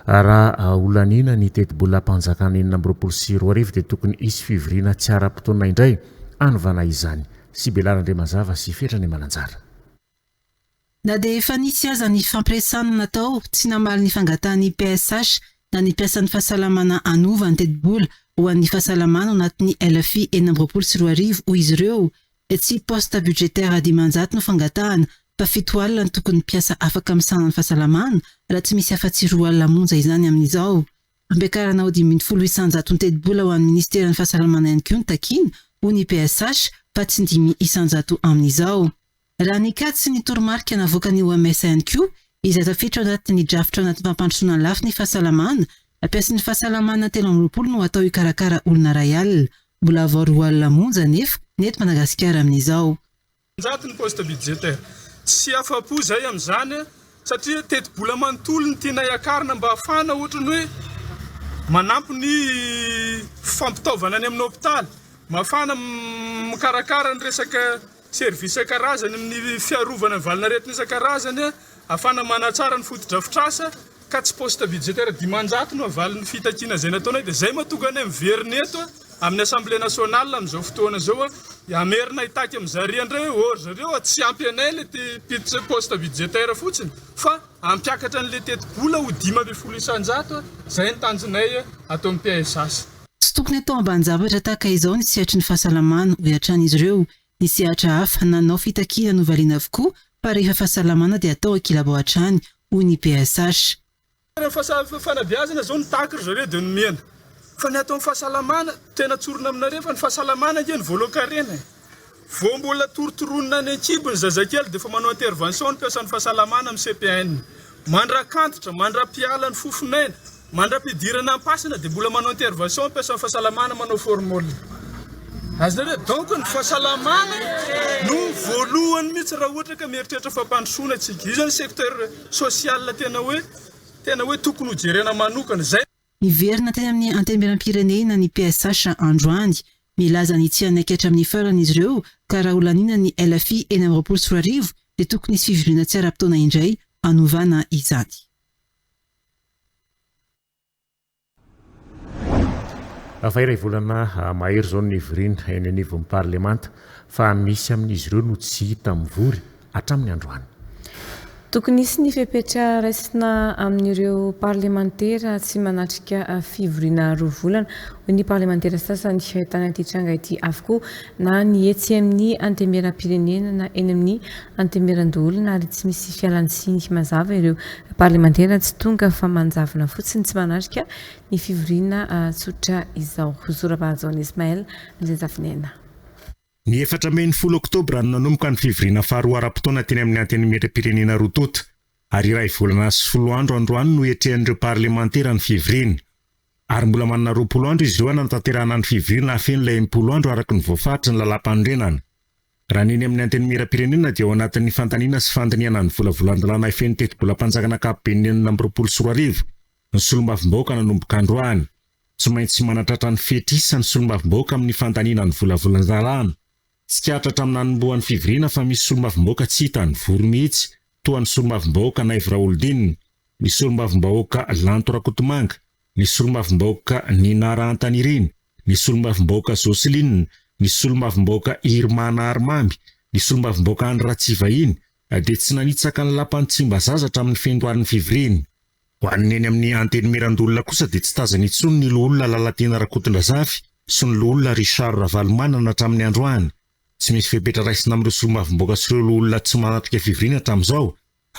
Raha holaniana ny tetibolam-panjakana enina amby roapolo sy roa arivo dia tokony hisy fivoriana tsy ara-potoana indray hanovana izany. Sibela Randriamazava sy Fetra Nimananjara. Na dia efa nisy aza ny fampiresahana natao, tsy namaly ny fangatahan'ny PSH na ny mpiasan'ny fahasalamana hanova ny tetibola ho an'ny fahasalamana ao anatin'ny LFI enina amby roapolo sy roa arivo, hoy izy ireo. Tsy poste budgétaire dimanjato no fangatahana fa fito alina no tokony mpiasa afaka misahana ny fahasalamana raha tsy misy afa-tsy roa alina monja izany amin'izao. Fampiakarana ho dimy ambin'ny folo isanjato ny tetibola ho an'ny minisiteran'ny fahasalamana ihany koa no takiana, hoy ny PSH, fa tsy dimy isanjato amin'izao. Raha nikatso sy ny toromarika navoakan'ny OMS ihany koa izay tafiditra ao anatin'ny drafitra ao anatin'ny fampandrosoana lafiny fahasalamana, mpiasan'ny fahasalamana telo amby roapolo no atao hikarakara olona iray alina. Mbola vao roa alina monja anefa ny eto Madagasikara amin'izao. Njato ny poste budgétaire. Tsy afa-po izahay amin'izany satria tetibola manontolo no tianay akarina mba hahafahana ohatra ny hoe manampy ny fampitaovana any amin'ny hopitaly, mba hahafahana mikarakara ny resaka. Service isan-karazany amin'ny fiarovana ny valinaretina isan-karazany afana manatsara ny fotodrafitrasa ka tsy poste budgétaire dimanjato no avalin'ny fitakiana izay nataonay dia izay mahatonga anay miverina eto amin'ny assemblée nationale amin'izao fotoana izao hamerina hitaky amin'ny zarian dry or zareo tsy ampy anay ilay te poste budgétaire fotsiny fa hampiakatra an'ilay tetibola ho dimy ambin'ny folo isan-jato izay ny tanjonay ataon'ny PSH. Tsy tokony atao ambanin-javatra tahaka izao ny sehatry ny fahasalamana, hoy hatrany izy ireo. Ny sehatra hafa nanao fitakiana novaliana avokoa fa rehefa fahasalamana dia atao an-kilabao hatrany, hoy ny PSH. Rehefa fanabeazana izao no tahaka ry zareo dia nomena fa ny atao amin'ny fahasalamana, tena tsorina aminareo fa ny fahasalamana ange no voalohan-karena e! Vao mbola torotoronina any an-kibo ny zazakely dia efa manao intervention ny mpiasan'ny fahasalamana amin'ny CPN. Mandrak'antitra, mandra-piala ny fofon'aina, mandra-pidirana am-pasana dia mbola manao intervention ny mpiasan'ny fahasalamana manao formol. Azonareo? Donc ny fahasalamana no voalohany mihitsy raha ohatra ka mieritreritra fampandrosoana antsika. Io zany secteur social tena hoe tena hoe tokony hojerena manokana. Zay. Niverina teny amin'ny Antenimierampirenena ny PSH androany. Milaza ny tsy hanaikatra amin'ny farany izy ireo ka raha holaniana ny LFI enina amby roapolo sy roa arivo dia tokony hisy fivoriana tsy ara-potoana indray hanovana izany. Efa iray volana mahery izao ny nivoriana eny anivon'ny parlemanta fa misy amin'izy ireo no tsy hita mivory hatramin'ny androany. Tokony hisy ny fepetra raisina amin'ireo parlemantera tsy manatrika fivoriana roa volana, hoy ny parlemantera sasany tany amin'ity tranga ity avokoa na ny etsy amin'ny antemieram-pirenena na eny amin'ny antemieran-doholona ary tsy misy fialantsiny mazava ireo parlemantera tsy tonga fa manjavona fotsiny tsy manatrika ny fivoriana tsotra izao. Hosorabahajona Ismaël, Mizenjavinaina. Ny efatra mey ny folo oktobra no nanomboka ny fivoriana faharoa ara-potoana teny amin'ny Antenimierampirenena roa tonta, ary iray volana sy folo andro androany no iatrehan'ireo parlemantera ny fivoriana. Ary mbola manana roapolo andro izy ireo hanantanterahana ny fivoriana hahafeno ilay enimpolo andro araka ny voafaritry ny lalàmpanorenana. Raha ny eny amin'ny Antenimierampirenena dia ao anatin'ny fandaniana sy fandinihana ny volavolan-dalàna hifehy ny tetibolam-panjakana ankapoben'ny enina amby roapolo sy roa arivo ny solombavambahoaka nanomboka androany. Tsy maintsy manatratra ny fety hisa ny solombavambahoaka amin'ny fandaniana ny volavolan-draharahan. Tsikaritra hatramin'ny nanombohan'ny fivoriana fa misy solombavambahoaka tsy hita any Vory mihitsy, toa ny solombavambahoaka Naivo Raholdina, ny solombavambahoaka Lanto Rakotomanga, ny solombavambahoaka Nina Rahantanirina, ny solombavambahoaka Jocelyne, ny solombavambahoaka Irma Naharimamy, ny solombavambahoaka Andry Ratsivahiny, dia tsy nanitsaka ny lapan'i Tsimbazaza hatramin'ny fendoarin'ny fivoriana. Ho an'ny eny amin'ny Antenimieran-doholona kosa dia tsy tazana intsony ny Loholona Lalatiana Rakotondrazafy sy ny Loholona Richard Ravalomanana hatramin'ny androany. Tsy misy fepetra raisina amin'ireo Solombavambahoaka sy ireo Loholona tsy manatrika fivoriana hatramin'izao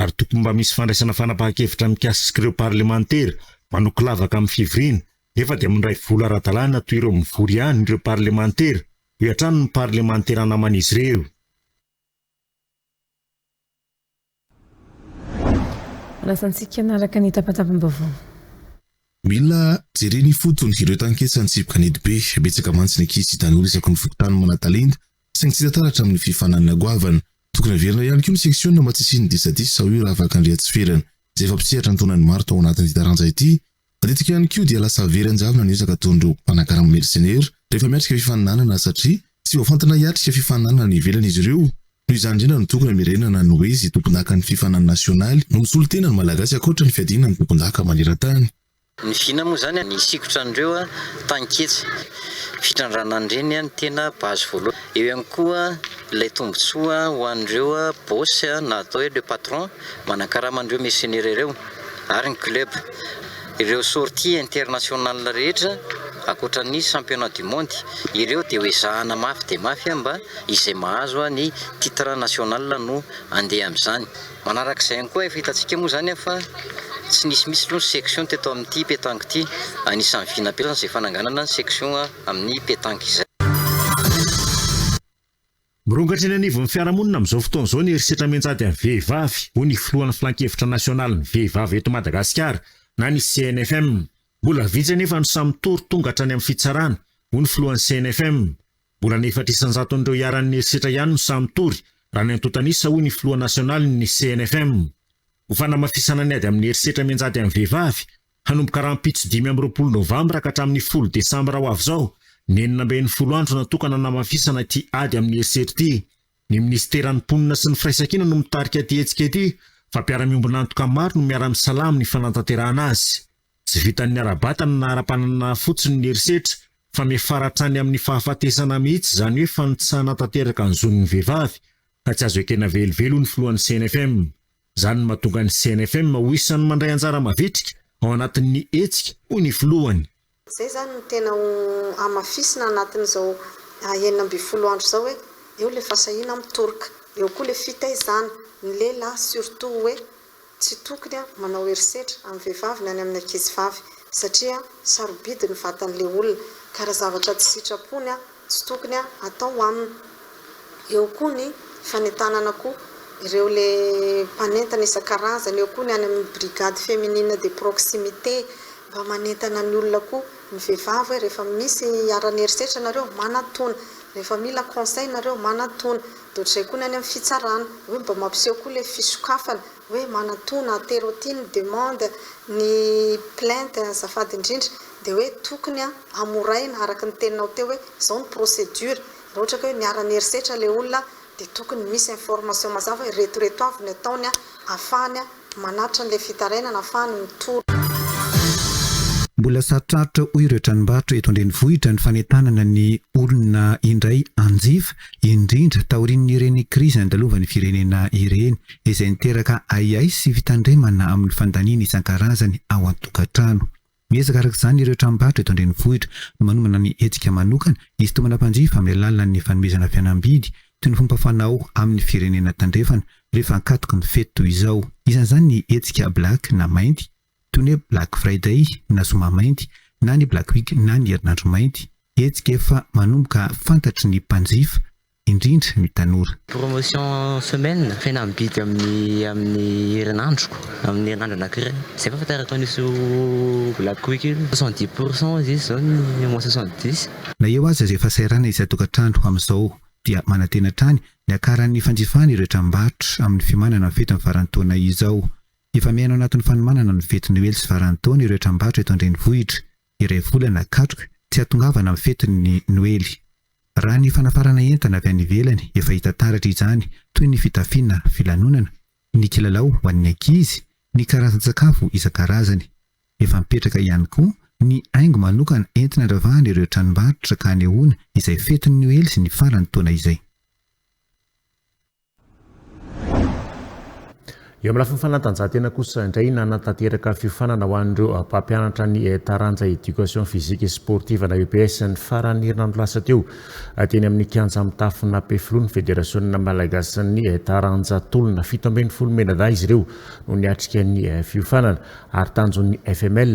ary tokony mba misy fandraisana fanapahan-kevitra mikasika ireo Parlemantera manoky lavaka amin'ny fivoriana nefa dia mandray vola ara-dalàna toy ireo mivory ihany ireo Parlemantera, hoy hatrany ny Parlemantera naman'izy ireo. Lasa antsika hanaraka ny tapatapam-baovao. Mila jerena ifotony ireo tanketsa nitsipoka ny Edibe. Betsaka mantsy ny ankizy sy tanora isaky ny fokontany manan-talenta saingy tsy hita taratra amin'ny fifaninanana goavana. Tokony haverina ihany koa ny seksiona mba tsy hisian'ny disadisa, hoy Ravac Andriatsiferana, izay efa mpisehatra antonan'ny maro tao anatin'ity taranja ity. Matetika ihany koa dia lasa very an-javona ny ezaka ataon'ireo mpanakarama mercenaires rehefa miatrika fifaninanana satria tsy voafantina hiatrika fifaninanana any ivelany izy ireo. Noho izany indrindra no tokony hamerenana ny hoe izay tompondakan'ny fifaninana nasionaly no misolo tena ny Malagasy ankoatra ny fiadiana ny tompondaka maneran-tany. Ny vina moa izany ny sikotra an'ireo taninketsa. Fitrandranan'ireny no tena base voalohany. Eo ihany koa ilay tombontsoa ho an'ireo boss na atao hoe le patron manakarama an'ireo mercenaires ireo. ary ny club. Ireo sorties internationales rehetra, ankoatra ny championnat du monde, ireo dia ho ezahana mafy dia mafy mba izay mahazo ny titre national no handeha amin'izany. Manaraka izay ihany koa, efa hitantsika moa izany fa tsy nisy mihitsy aloha ny section teto amin'ity petanque ity. Anisan'ny vinapelana izay fananganana ny section amin'ny petanque izay. Mirongatra eny anivon'ny fiarahamonina amin'izao fotoana izao ny herisetra mianjady amin'ny vehivavy, hoy ny filohan'ny Filankevitra nasionalin'ny vehivavy eto Madagasikara na ny CNFM. Mbola vitsy anefa no samy tory tonga hatrany amin'ny fitsarana, hoy ny filohan'ny CNFM. Mbola ny efatra isan-jaton'ireo iharan'ny herisetra ihany no samy tory, raha ny antontan'isa, hoy ny filoha nasionalin'ny CNFM. Ho fanamafisana ny ady amin'ny herisetra mianjady amin'ny vehivavy, Hanomboka rahampitso dimy amby roapolo novambra ka hatramin'ny folo desambra ho avy izao ny enina amby enimpolo andro natokana hanamafisana ity ady amin'ny herisetra ity. Ny minisiteran'ny Mponina sy ny Firaisankina no mitarika ity hetsika ity fa mpiara-miombon'antoka maro no miara-misalahy amin'ny fanantanterahana azy. Tsy vitan'ny ara-batana na ara-pananana fotsiny ny herisetra fa miafara hatrany amin'ny fahafatesana mihitsy izany hoe fanitsahana tanteraka ny zon'ny vehivavy ka tsy azo ekena velively hoy ny filohan'ny CNFM. Izany no mahatonga ny CNFM ho isan'ny mandray anjara mavitrika ao anatin'ny hetsika, hoy ny filohany. Izay izany no tena ho hamafisina anatin'izao enina ambin'ny folo andro izao hoe eo ilay fahasahiana mitoroka, eo koa ilay fitaizana ny lehilahy surtout hoe tsy tokony manao herisetra amin'ny vehivavy na ny amin'ny ankizivavy satria sarobidy ny vatan'ilay olona ka raha zavatra tsy sitrapony tsy tokony atao aminy, eo koa ny fanentanana koa ireo le mpanentana isan-karazany, eo koa ny any amin'ny brigade féminine de proximité mba manentana ny olona koa ny vehivavy hoe rehefa misy hiharan'ny herisetra nareo manatona, rehefa mila conseil nareo manatona, dia ohatr'izay koa ny any amin'ny fitsarana hoe mba mampiseho koa ilay fisokafana hoe manatona, aterotino, demande ny plainte azafady indrindra Dia hoe tokony an hamoraina araka ny teninao teo hoe izao ny procédure, raha ohatra ka hoe niara niherisetra ilay olona dia tokony misy information mazava hoe reto reto avy ny ataony an ahafahany an manatitra an'ilay fitarainana ahafahany mitory. Mbola sarotrarotra hoy ireo tranombarotra eto an-drenivohitra ny fanentanana ny olona indray hanjifa, indrindra taorian'ireny krizy nandalovan'ny firenena ireny, izay niteraka ahiahy sy fitandremana amin'ny fandaniana isan-karazany ao an-tokantrano. Miezaka araka izany ireo tranombarotra eto an-drenivohitra no manomana ny hetsika manokana hisintomana mpanjifa amin'ny alalan'ny fanomezana fihenam-bidy toy ny fomba fanao amin'ny firenena tandrefana rehefa ankatoky ny fety toy izao. Isan'izany ny hetsika Black na Mainty toy ny hoe Black Friday na Zoma Mainty na ny Black Week na ny Herinandro Mainty, hetsika efa manomboka fantatry ny mpanjifa. indrindra ny tanora. Promotion semaine, fena mibidy amin'ny amin'ny herinandroko, amin'ny herinandro anankiray. Izay fahafantarako an'io black week io. Soixante dix pour cent izy izao ny mois soixante dix. Na eo aza izay fahasahiranana isan-tokantrano amin'izao dia manantena hatrany ny hakaran'ny fanjifana ireo tranombarotra amin'ny fiomanana ny fetin'ny faran'ny taona izao. Efa miaina ao anatin'ny fanomanana ny fety noely sy faran'ny taona ireo tranombarotra eto an-drenivohitra. iray volana katroka tsy hahatongavana amin'ny fetin'ny Noely. Raha ny fanafarana entana avy any ivelany efa hita taratra izany toy ny fitafiana, filanonana, ny kilalao ho an'ny ankizy, ny karazan-tsakafo isan-karazany. Efa mipetraka ihany koa ny haingo manokana entina andravahana ireo tranombarotra ka hanehoana izay fetin'ny Noely sy ny faran'ny taona izay. Eo amin'ny lafiny fanatanjahantena kosa indray, nanatanteraka fiofanana ho an'ireo mpampianatra ny taranja Education Physique et Sportive na EPS ny faran'ny herinandro lasa teo, teny amin'ny kianja mitafon'Ampefiloha ny Federasiona malagasin'ny taranja tolona. Fito ambin'ny folo menadahy izy ireo no niatrika ny fiofanana ary tanjon'ny FML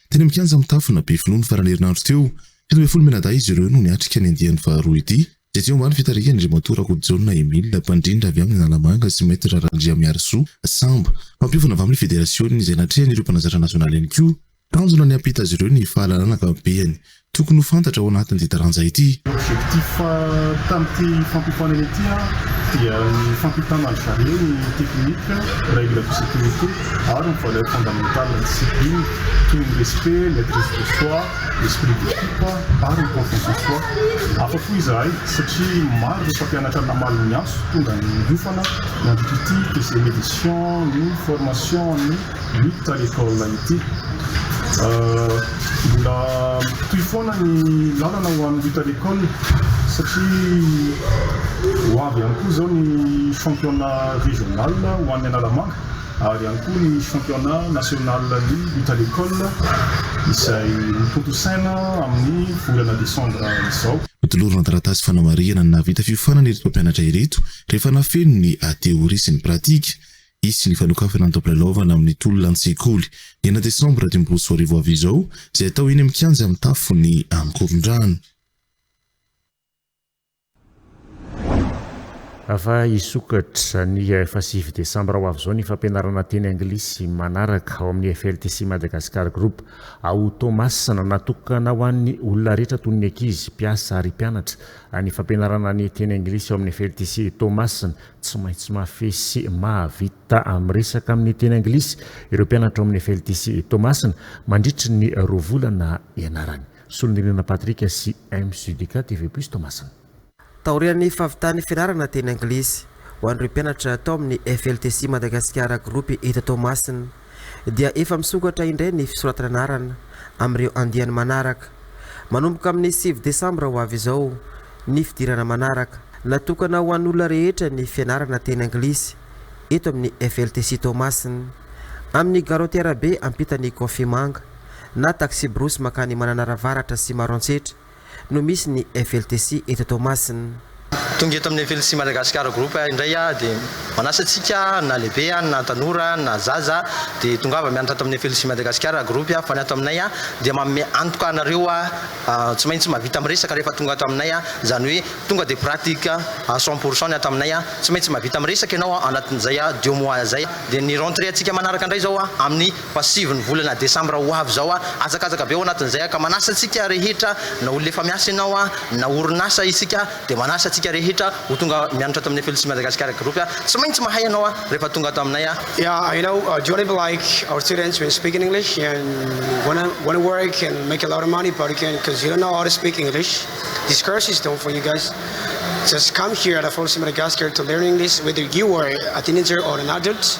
Teny amin'ny kianja mitafo na Befinoa ny faran'ny herinandro teo. Fito ambin'ny folo menadahy izy ireo no niatrika ny andiany faharoa ity, izay teo ambany fitarihan'Andriamatoa Rakotojaona Emile, mpandrindra avy amin'ny Analamanga sy Maître Randriamiarisoa, sambo. Mampiofana avy amin'ny federasionina izay natrehan'ireo mpanazatra nasionaly ihany koa. Tanjona ny hampita azy ireo ny fahalalana ankapobehany. Tokony ho fantatra ao anatin'ity taranja ity. Objectif tamin'ity fampiofanana ity dia ny fampitana ny zare ny technique, règle de sécurité ary ny valeur fondamentale discipline toy ny respect, maitrise de soi, esprit d'équipe ary ny confiance en soi. Hafa koa izahay satria maro ireo mpampianatra namaly ny antso tonga niofana nandritra ity deuxième édition ny formation ny. Miditra ny taona ity. Mbola mitohy foana ny lalana ho an'ny Lutte à l'Ecole satria ho avy ihany koa izao ny championnat régional ho an'ny Analamanga ary ihany koa ny championnat national ny Lutte à l'Ecole izay hotontosaina amin'ny volana décembre izao. Notolorana taratasy fanamarihana ny nahavita fiofanana ireto mpampianatra ireto rehefa nafeniny ny theorie sy ny pratique. Hisy ny fanokafana ny taom-pilalaovana amin'ny tolona an-tsekoly, enina desambra dimy ambin'ny folo sy roa arivo avy izao, izay hatao eny amin'ny kianja mitafo ny Ankorondrano. Ava hisokatra ny efa sivy desambra ho avy izao ny fampianarana teny anglisy manaraka ao amin'ny FLTC Madagascar Group ao Toamasina. Natokana ho an'ny olona rehetra toy ny ankizy, mpiasa ary mpianatra ny fampianarana ny teny anglisy ao amin'ny FLTC Toamasina Tsy maintsy mahafehy sy mahavita amin'ny resaka amin'ny teny anglisy ireo mpianatra ao amin'ny FLTC Toamasina mandritry ny roa volana ianarany. Solonirina Patrick sy MSUDK TV Plus Toamasina. Taorian'ny fahavitan'ny fianarana teny anglisy ho an'ireo mpianatra tao amin'ny FLTC Madagasikara Groupe eto Toamasina, dia efa misokatra indray ny fisoratana anarana amin'ireo andiany manaraka. Manomboka amin'ny sivy desambra ho avy izao ny fidirana manaraka. Natokana ho an'olona rehetra ny fianarana teny anglisy eto amin'ny FLTC Toamasina, amin'ny garotiera be ampitan'ny Coffee Manga na taxi-brousse mankany Mananara Avaratra sy Maroantsetra. no misy ny FLTC eto Toamasina. Tonga eto amin'ny FLTC Madagascar Group indray aho dia manasa antsika na lehibe na tanora na zaza dia tongava mianatra ato amin'ny FLTC Madagascar Group fa ny ato aminay dia manome antoka anareo tsy maintsy mahavita miresaka rehefa tonga ato aminay izany hoe tonga dia pratique à cent pour cent ny ato aminay tsy maintsy mahavita miresaka ianao anatin'izay deux mois izay dia ny rentrée antsika manaraka indray izao amin'ny Fa sivy ny volana desambra ho avy izao aho, hazakazaka be ao anatin'izay aho, ka manasa antsika rehetra, na olona efa miasa ianao, na orinasa isika, dia manasa antsika rehetra ho tonga mianatra ato amin'ny FLC Madagascar Group aho. Tsy maintsy mahay ianao aho rehefa tonga ato aminay aho. Yeah, I know, do you wanna be like our students when speak in English and wanna wanna work and make a lot of money but you can't cause you don't know how to speak English? This course is done for you guys. Just come here at FLC Madagascar to learn English whether you are a teenager or an adult.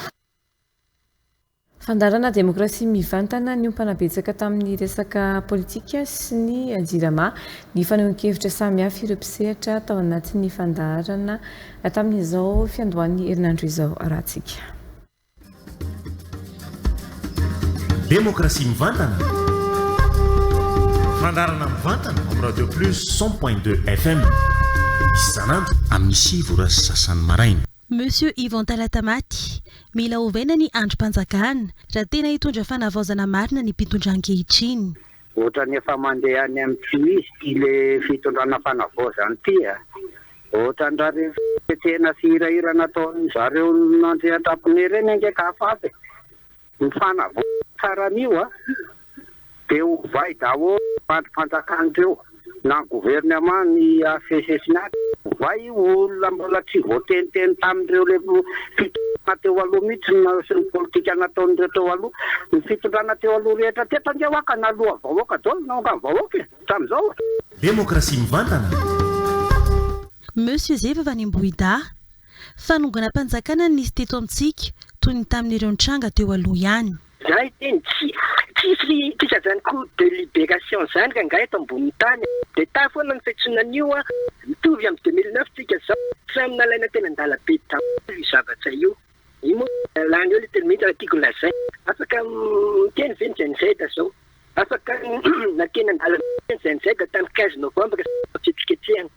Fandaharana demokrasia mivantana niompana betsaka tamin'ny resaka politika sy ny Jirama ny fanehoan-kevitra samihafa ireo mpisehatra tao anatin'ny fandaharana tamin'izao fiandohan'ny herinandro izao arahantsika. Demokrasia mivantana, fandaharana mivantana amin'ny Radio Plus cent point deux FM isan'andro amin'ny sivy ora sy sasany maraina. Monsieur Yvon Talatamaty, mila ovaina ny andrim-panjakana raha tena hitondra fanavaozana marina ny mpitondra ankehitriny. Otrany efa mandeha any am tsy misy ty le fitondrana fanavaozana ity a! Otrany ra reny fihetsehana sy hirahira nataon zareo nandrian-dRamponiry reny ange ka afafy e! Ny fanavaozana tsara an'io a! Dia hovay daholo ireo andrim-panjakana ireo na ny gouvernement ny asesesnet hovay io olona mbola tsy voateniteny tamin'ireo le fitondrana teo aloha mihitsy ny naseho ny politika nataon'ireo teo aloha ny fitondrana teo aloha rehetra teto ange hoa ka naloha vahoaka daholo ny naongan'ny vahoaka e! Hatramin'izao. Demokrasia mivantana. Monsieur zeva vany ambohidahy. Fanonganam-panjakana no nisy teto amintsika, toy ny tamin'ireo nitranga teo aloha ihany. Za hiteny tsy tsisy tsika zany ko de liberation zany rangahy eto amboniny tany a! De ta foana ny fetsoina an'io a! Mitovy am deux mille neuf tsika zao, samy nalaina teny an-dalabe daholo io zavatra io. Io moa dia lany eo le teny mihitsy raha tiako lazaina. Afaka miteny ve ny Gen Z zao? Afaka nateny an-dalabe ve ny Gen Z tany quinze novembre sy ny fihetsiketsehana?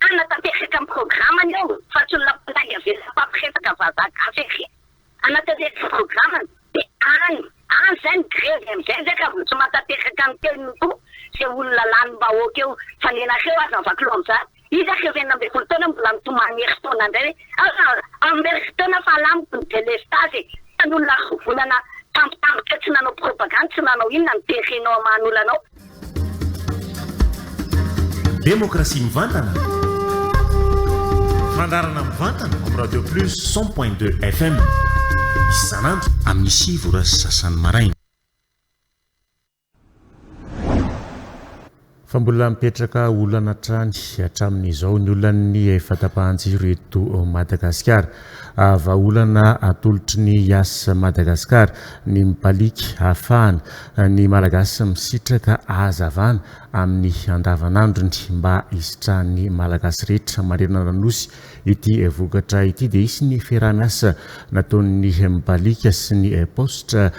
Tokana tanteraka amin'ny programany eo fa tsy olona mpandainga velona mpampiresaka vazaha gasy ery hanatanteraka ny programany dia any any izay ny grevy amin'izay izay ka vao tsy mahatanteraka ny teniny koa izay olona lanim-bahoaka eo fa ny anareo aza ny vakilo amin'izany iza ireo enina ambin'ny folo taona mbola mitomany herintaona indray hoe aza amin'ny herintaona fa lamiko ny delestazy e fa ny olona roa volana tampotampoka tsy nanao propagandy tsy nanao inona no terenao hamaha ny olanao Demokrasia mivantana, fandaharana mivantana amin'ny Radio Plus cent point deux FM isan'andro amin'ny sivy ora sy sasany maraina. Fa mbola mipetraka olana hatrany hatramin'izao ny olan'ny fahatapahan-jiro eto Madagasikara. Vahaolana atolotry ny Yas Madagascar ny mipaliaka hahafahana ny Malagasy misitraka ahazavana amin'ny andavanandrony. Mba hisitrahan'ny Malagasy rehetra manerana ny Nosy ity vokatra ity dia hisy ny fiaraha-miasa nataon'ny mipaliaka sy ny paositra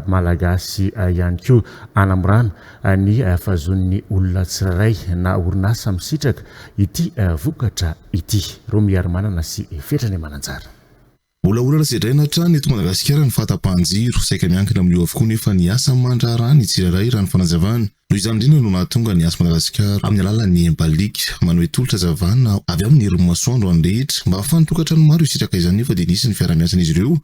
Malagasy ihany koa hanamorana ny fahazoan'ny olona tsirairay na orinasa misitraka ity vokatra ity, Romiarimanana sy Fetra ny Mananjary. Mbola olana sedraina hatrany eto Madagasikara ny fahatapahan-jiro. Saika miankina amin'io avokoa nefa ny asa aman-draharaha ny tsirairay raha ny fanazavana. Noho izany indrindra no nahatonga ny Asa Madagasikara amin'ny alalan'ny Empalic manohy tolotra hazavana avy amin'ny herin'ny masoandro any rehetra mba ahafahan'ny tokantrano maro hisitraka izany nefa dia nisy ny fiaraha-miasan'izy ireo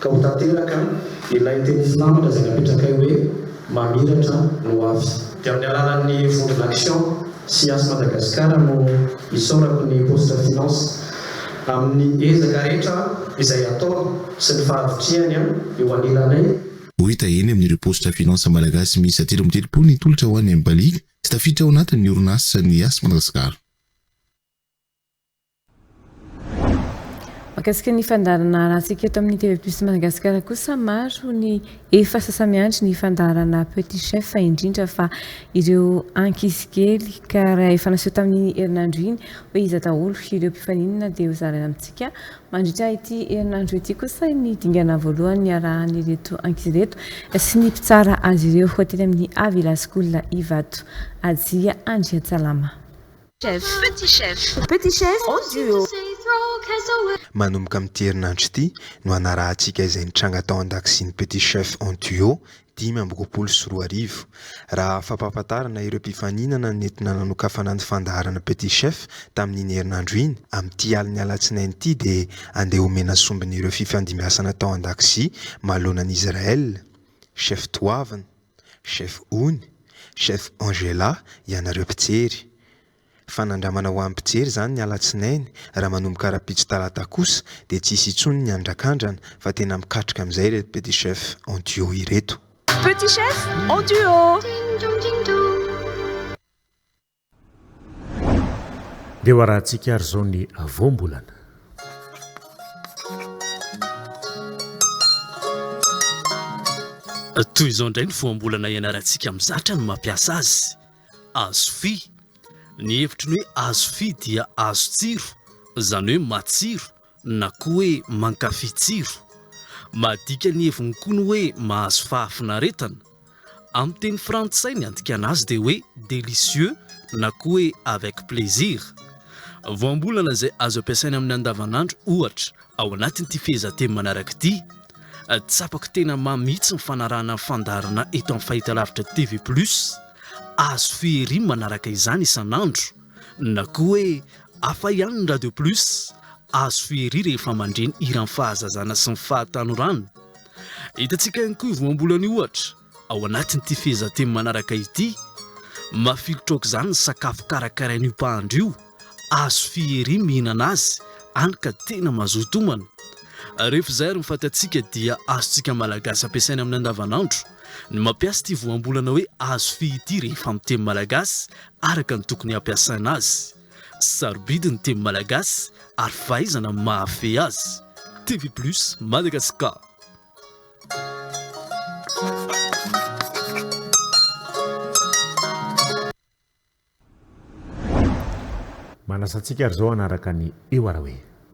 Ka ho tanteraka ilay teny filamatra izay napetrakay hoe, Mamiratra no ho avy. Dia amin'ny alalan'ny vondrona Action sy Yas Madagascar no isaorako ny Postra Finance amin'ny ezaka rehetra izay ataony sy ny fahavitrihany eo anilanay. Ho hita eny amin'ireo Postra Finance Malagasy miisa telo amby telopolo ny tolotra ho an'i Mbaliaka sy tafiditra ao anatin'ny orinasan'ny Yas Madagascar. Mahakasika ny fandaharana arantsika eto amin'ny TV Plus Madagasikara kosa maro ny efa sasa-miandry ny fandaharana Petit Chef indrindra fa ireo ankizy kely ka raha efa naseho tamin'ny herinandro iny hoe iza daholo ireo mpifaninana dia hozaraina amintsika mandritra ity herinandro ity kosa ny dingana voalohany niarahany ireto ankizy ireto sy ny mpitsara azy ireo ho ateny amin'ny Avila School Ivato Ajia Andriatsalama. Chef, petit chef, petit chef en duo. Manomboka amin'ity herinandro ity no hanarahantsika izay nitranga tao an-dakozian'ny Petit Chef en duo dimy amby roapolo sy roa arivo. Raha fampahafantarana ireo mpifaninana nentina nanokafana ny fandaharana Petit Chef tamin'iny herinandro iny, amin'ity alin'ny alatsinainy ity dia andeha homena sombiny ireo fifandimbiasana tao an-dakozia maloanan'i Israel, chef toavina. Chef Ony, Chef Angela, ianareo mpijery. Fanandramana ho an'ny mpijery izany ny alatsinainy, raha manomboka rahampitso talata kosa dia tsy hisy intsony ny andrakandrana fa tena mikatroka amin'izay ireto petit chef en duo ireto. Petit chef en duo. Dia ho arahantsika ary izao ny voambolana. Toy izao indray ny voambolana ianarantsika mizatra ny mampiasa azy. Azofy, ny hevitry ny hoe azofy dia azo tsiro, izany hoe matsiro, na koa hoe mankafy tsiro, madika ny heviny koa ny hoe mahazo fahafinaretana, amin'ny teny frantsay ny andikana azy dia hoe délicieux na koa hoe avec plaisir. Voambolana izay azo ampiasaina amin'ny andavanandro ohatra ao anatin'ity fehezanteny manaraka ity, Tsapako tena mamy mihitsy ny fanarahana ny fandaharana eto amin'ny fahitalavitra TV Plus, azo fiheriana manaraka izany isan'andro. Na koa hoe hafa ihany ny Radio Plus, azo fiheriha rehefa mandre ny hiran'ny fahazazana sy ny fahatanorana. Hitantsika ihany koa io voambolana io ohatra ao anatin'ity fehezanteny manaraka ity, Mafilotra aok'izany ny sakafo karakarain'io mpahandro io, azo fiheriha ny mihinana azy, hany ka tena mazoto homana. Rehefa izay ary ny fatantsika dia azontsika Malagasy ampiasaina amin'ny andavanandro ny mampiasa ity voambolana hoe azo fihy ity rehefa amin'ny teny malagasy araka ny tokony hampiasana azy. Sarobidy ny teny malagasy ary fahaizana no mahafehy azy. TV Plus Madagascar. Manasa antsika ary izao hanaraka ny Eo Araoe.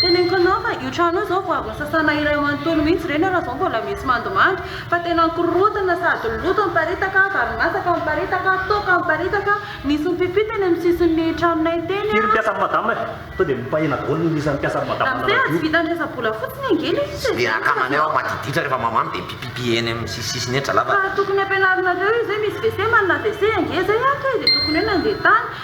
Teneniko anao fa io trano io zao vao avy nosasana iray manontolo mihitsy ireny ary zao mbola misy mandomando fa tena mikorontana sady loto miparitaka, vary masaka miparitaka, toaka miparitaka, nisy mipipy teny amin'ny sisin'ny tranonay teny a. Iry mpiasa an'i madama e! Tonga dia mipahena daholo ny isan'ny mpiasa an'i madama nanadio. Ramose a, tsy vitan'ny resa-bola fotsiny ange ilay izy e! Tsy dia akamanay ao madiditra rehefa mamamo dia mipipipy eny amin'ny sisisisiny eny, zalahy fa. Fa tokony ampianarinareo izy hoe misy WC manana WC ange izay ato e, dia tokony hoe nandeha tany.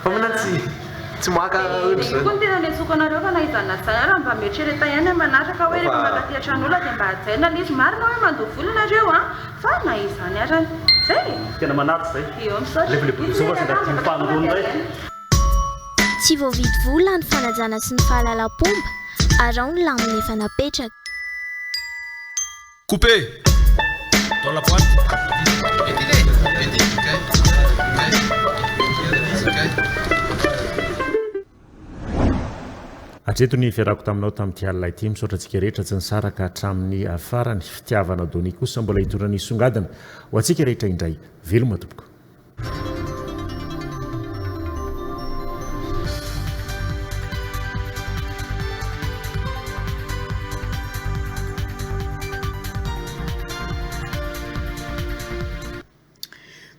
Mpaminany tsy tsy maka otr'izany. Dia io koa no tena niantsoako anareo fa na izany na izany ary mba mieritrereta ihany amin'ny manaraka hoe rehefa mankaty an-tran'olona dia mba hajaina ilay izy. Marina hoe mandoa vola nareo an! Fa na izany arany. Zay e! Tena manaja zay. Io, misaotra. Levy le bodozoba sy ndra dimy faningoana iray. Tsy voavidy vola ny fanajana sy ny fahalalam-pomba, araho ny lamina efa napetraka. Hatreto ny fiarahako taminao tamin'ity alina ity. Misaotra antsika rehetra tsy nisaraka hatramin'ny farany. Fitiavana Donny kosa mbola hitondra ny songadina ho antsika rehetra indray. Veloma tompoko.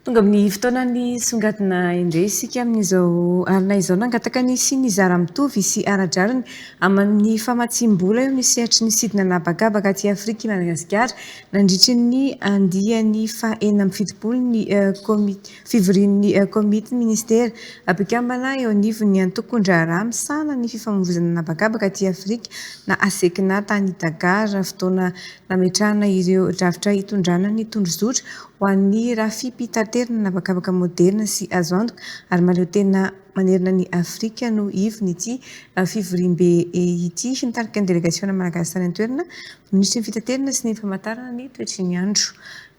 Tonga amin'ny fotoanan'ny songadina indray isika amin'izao alina izao. Nangataka ny hisian'ny zara mitovy sy ara-drariny amin'ny famatsiam-bola eo amin'ny sehatry ny sidina an'habakabaka aty Afrika i Madagasikara. Nandritry ny andiany faha enina amby fitopolo ny Komity fivorian'ny Komity Minisitera mpikambana eo anivon'ny Antokon-draharaha misahana ny Fifamoivoizana an'Habakabaka aty Afrika na ASECNA tany Dakar, fotoana nametrahana ireo drafitra hitondrana ny tondrozotra ho an'ny rafi-pitaterana an'habakabaka moderina sy azo antoka ary mahaleotena manerana ny Afrika no ivon'ity fivoriambe ity. Nitarika ny delegasiona malagasy tany an-toerana, Minisitry ny Fitaterana sy ny Famantarana ny toetry ny andro,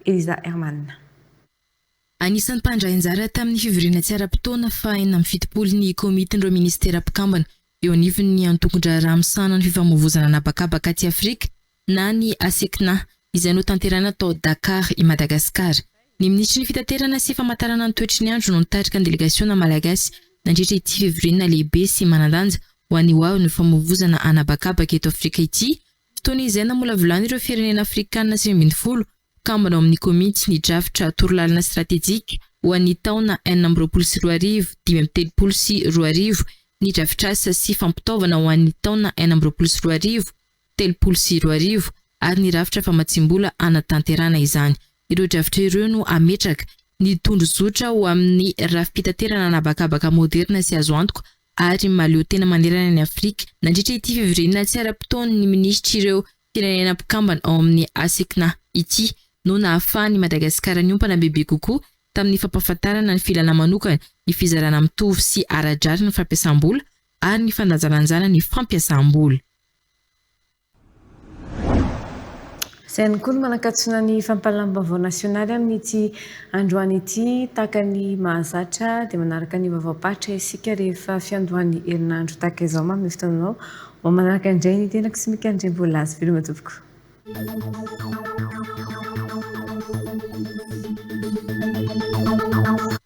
Elisa Herman. Anisan'ny mpandray anjara tamin'ny fivoriana tsy ara-potoana fahaenina amby fitopolo ny Komitin'ireo Minisitera mpikambana eo anivon'ny Antokon-draharaha misahana ny Fifamoivoizana an'habakabaka aty Afrika na ny ACICNA izay notanterahina tao Dakar i Madagasikara. Ny Minisitry ny Fitaterana sy Famantarana ny toetry ny andro no nitarika ny delegasiona malagasy nandritra ity fivoriana lehibe sy manan-danja ho an'ny hoavin'ny Fifamoivoizana an'habakabaka eto Afrika ity Toy ny izay namolavolana ireo firenena afrikanina sivy ambin'ny folo kambana ao amin'ny komity ny drafitra torolalana stratejika ho an'ny taona enina amby roapolo sy roa arivo, dimy amby telopolo sy roa arivo, ny drafitrasa sy fampitaovana ho an'ny taona enina amby roapolo sy roa arivo, telopolo sy roa arivo ary ny rafitra famatsiam-bola hanatanterana izany. Ireo drafitra ireo no hametraka ny tondrozotra ho amin'ny rafi-pitaterana an'habakabaka moderina sy azo antoka ary mahaleo tena manerana an'i Afrika nandritra ity fivoriana tsy ara-potoan'ny minisitr'ireo firenena mpikambana ao amin'ny ACCNA ity no nahafahan'i Madagasikara niompana bebe kokoa tamin'ny fampahafantarana ny filàna manokana ny fizarana mitovy sy ara-drariny ny fampiasam-bola ary ny fandanjalanjana ny fampiasam-bola. Izay ihany koa no manakatsona ny fampahalalam-baovao nasionaly amin'ity androany ity. Tahaka ny mahazatra dia manaraka ny vaovaom-paritra isika rehefa fiandohan'ny herinandro tahaka izao mamin'ny fotoananao. Ho manaraka indray ny tenako sy Mika Andriambolaza. Veloma tompoko.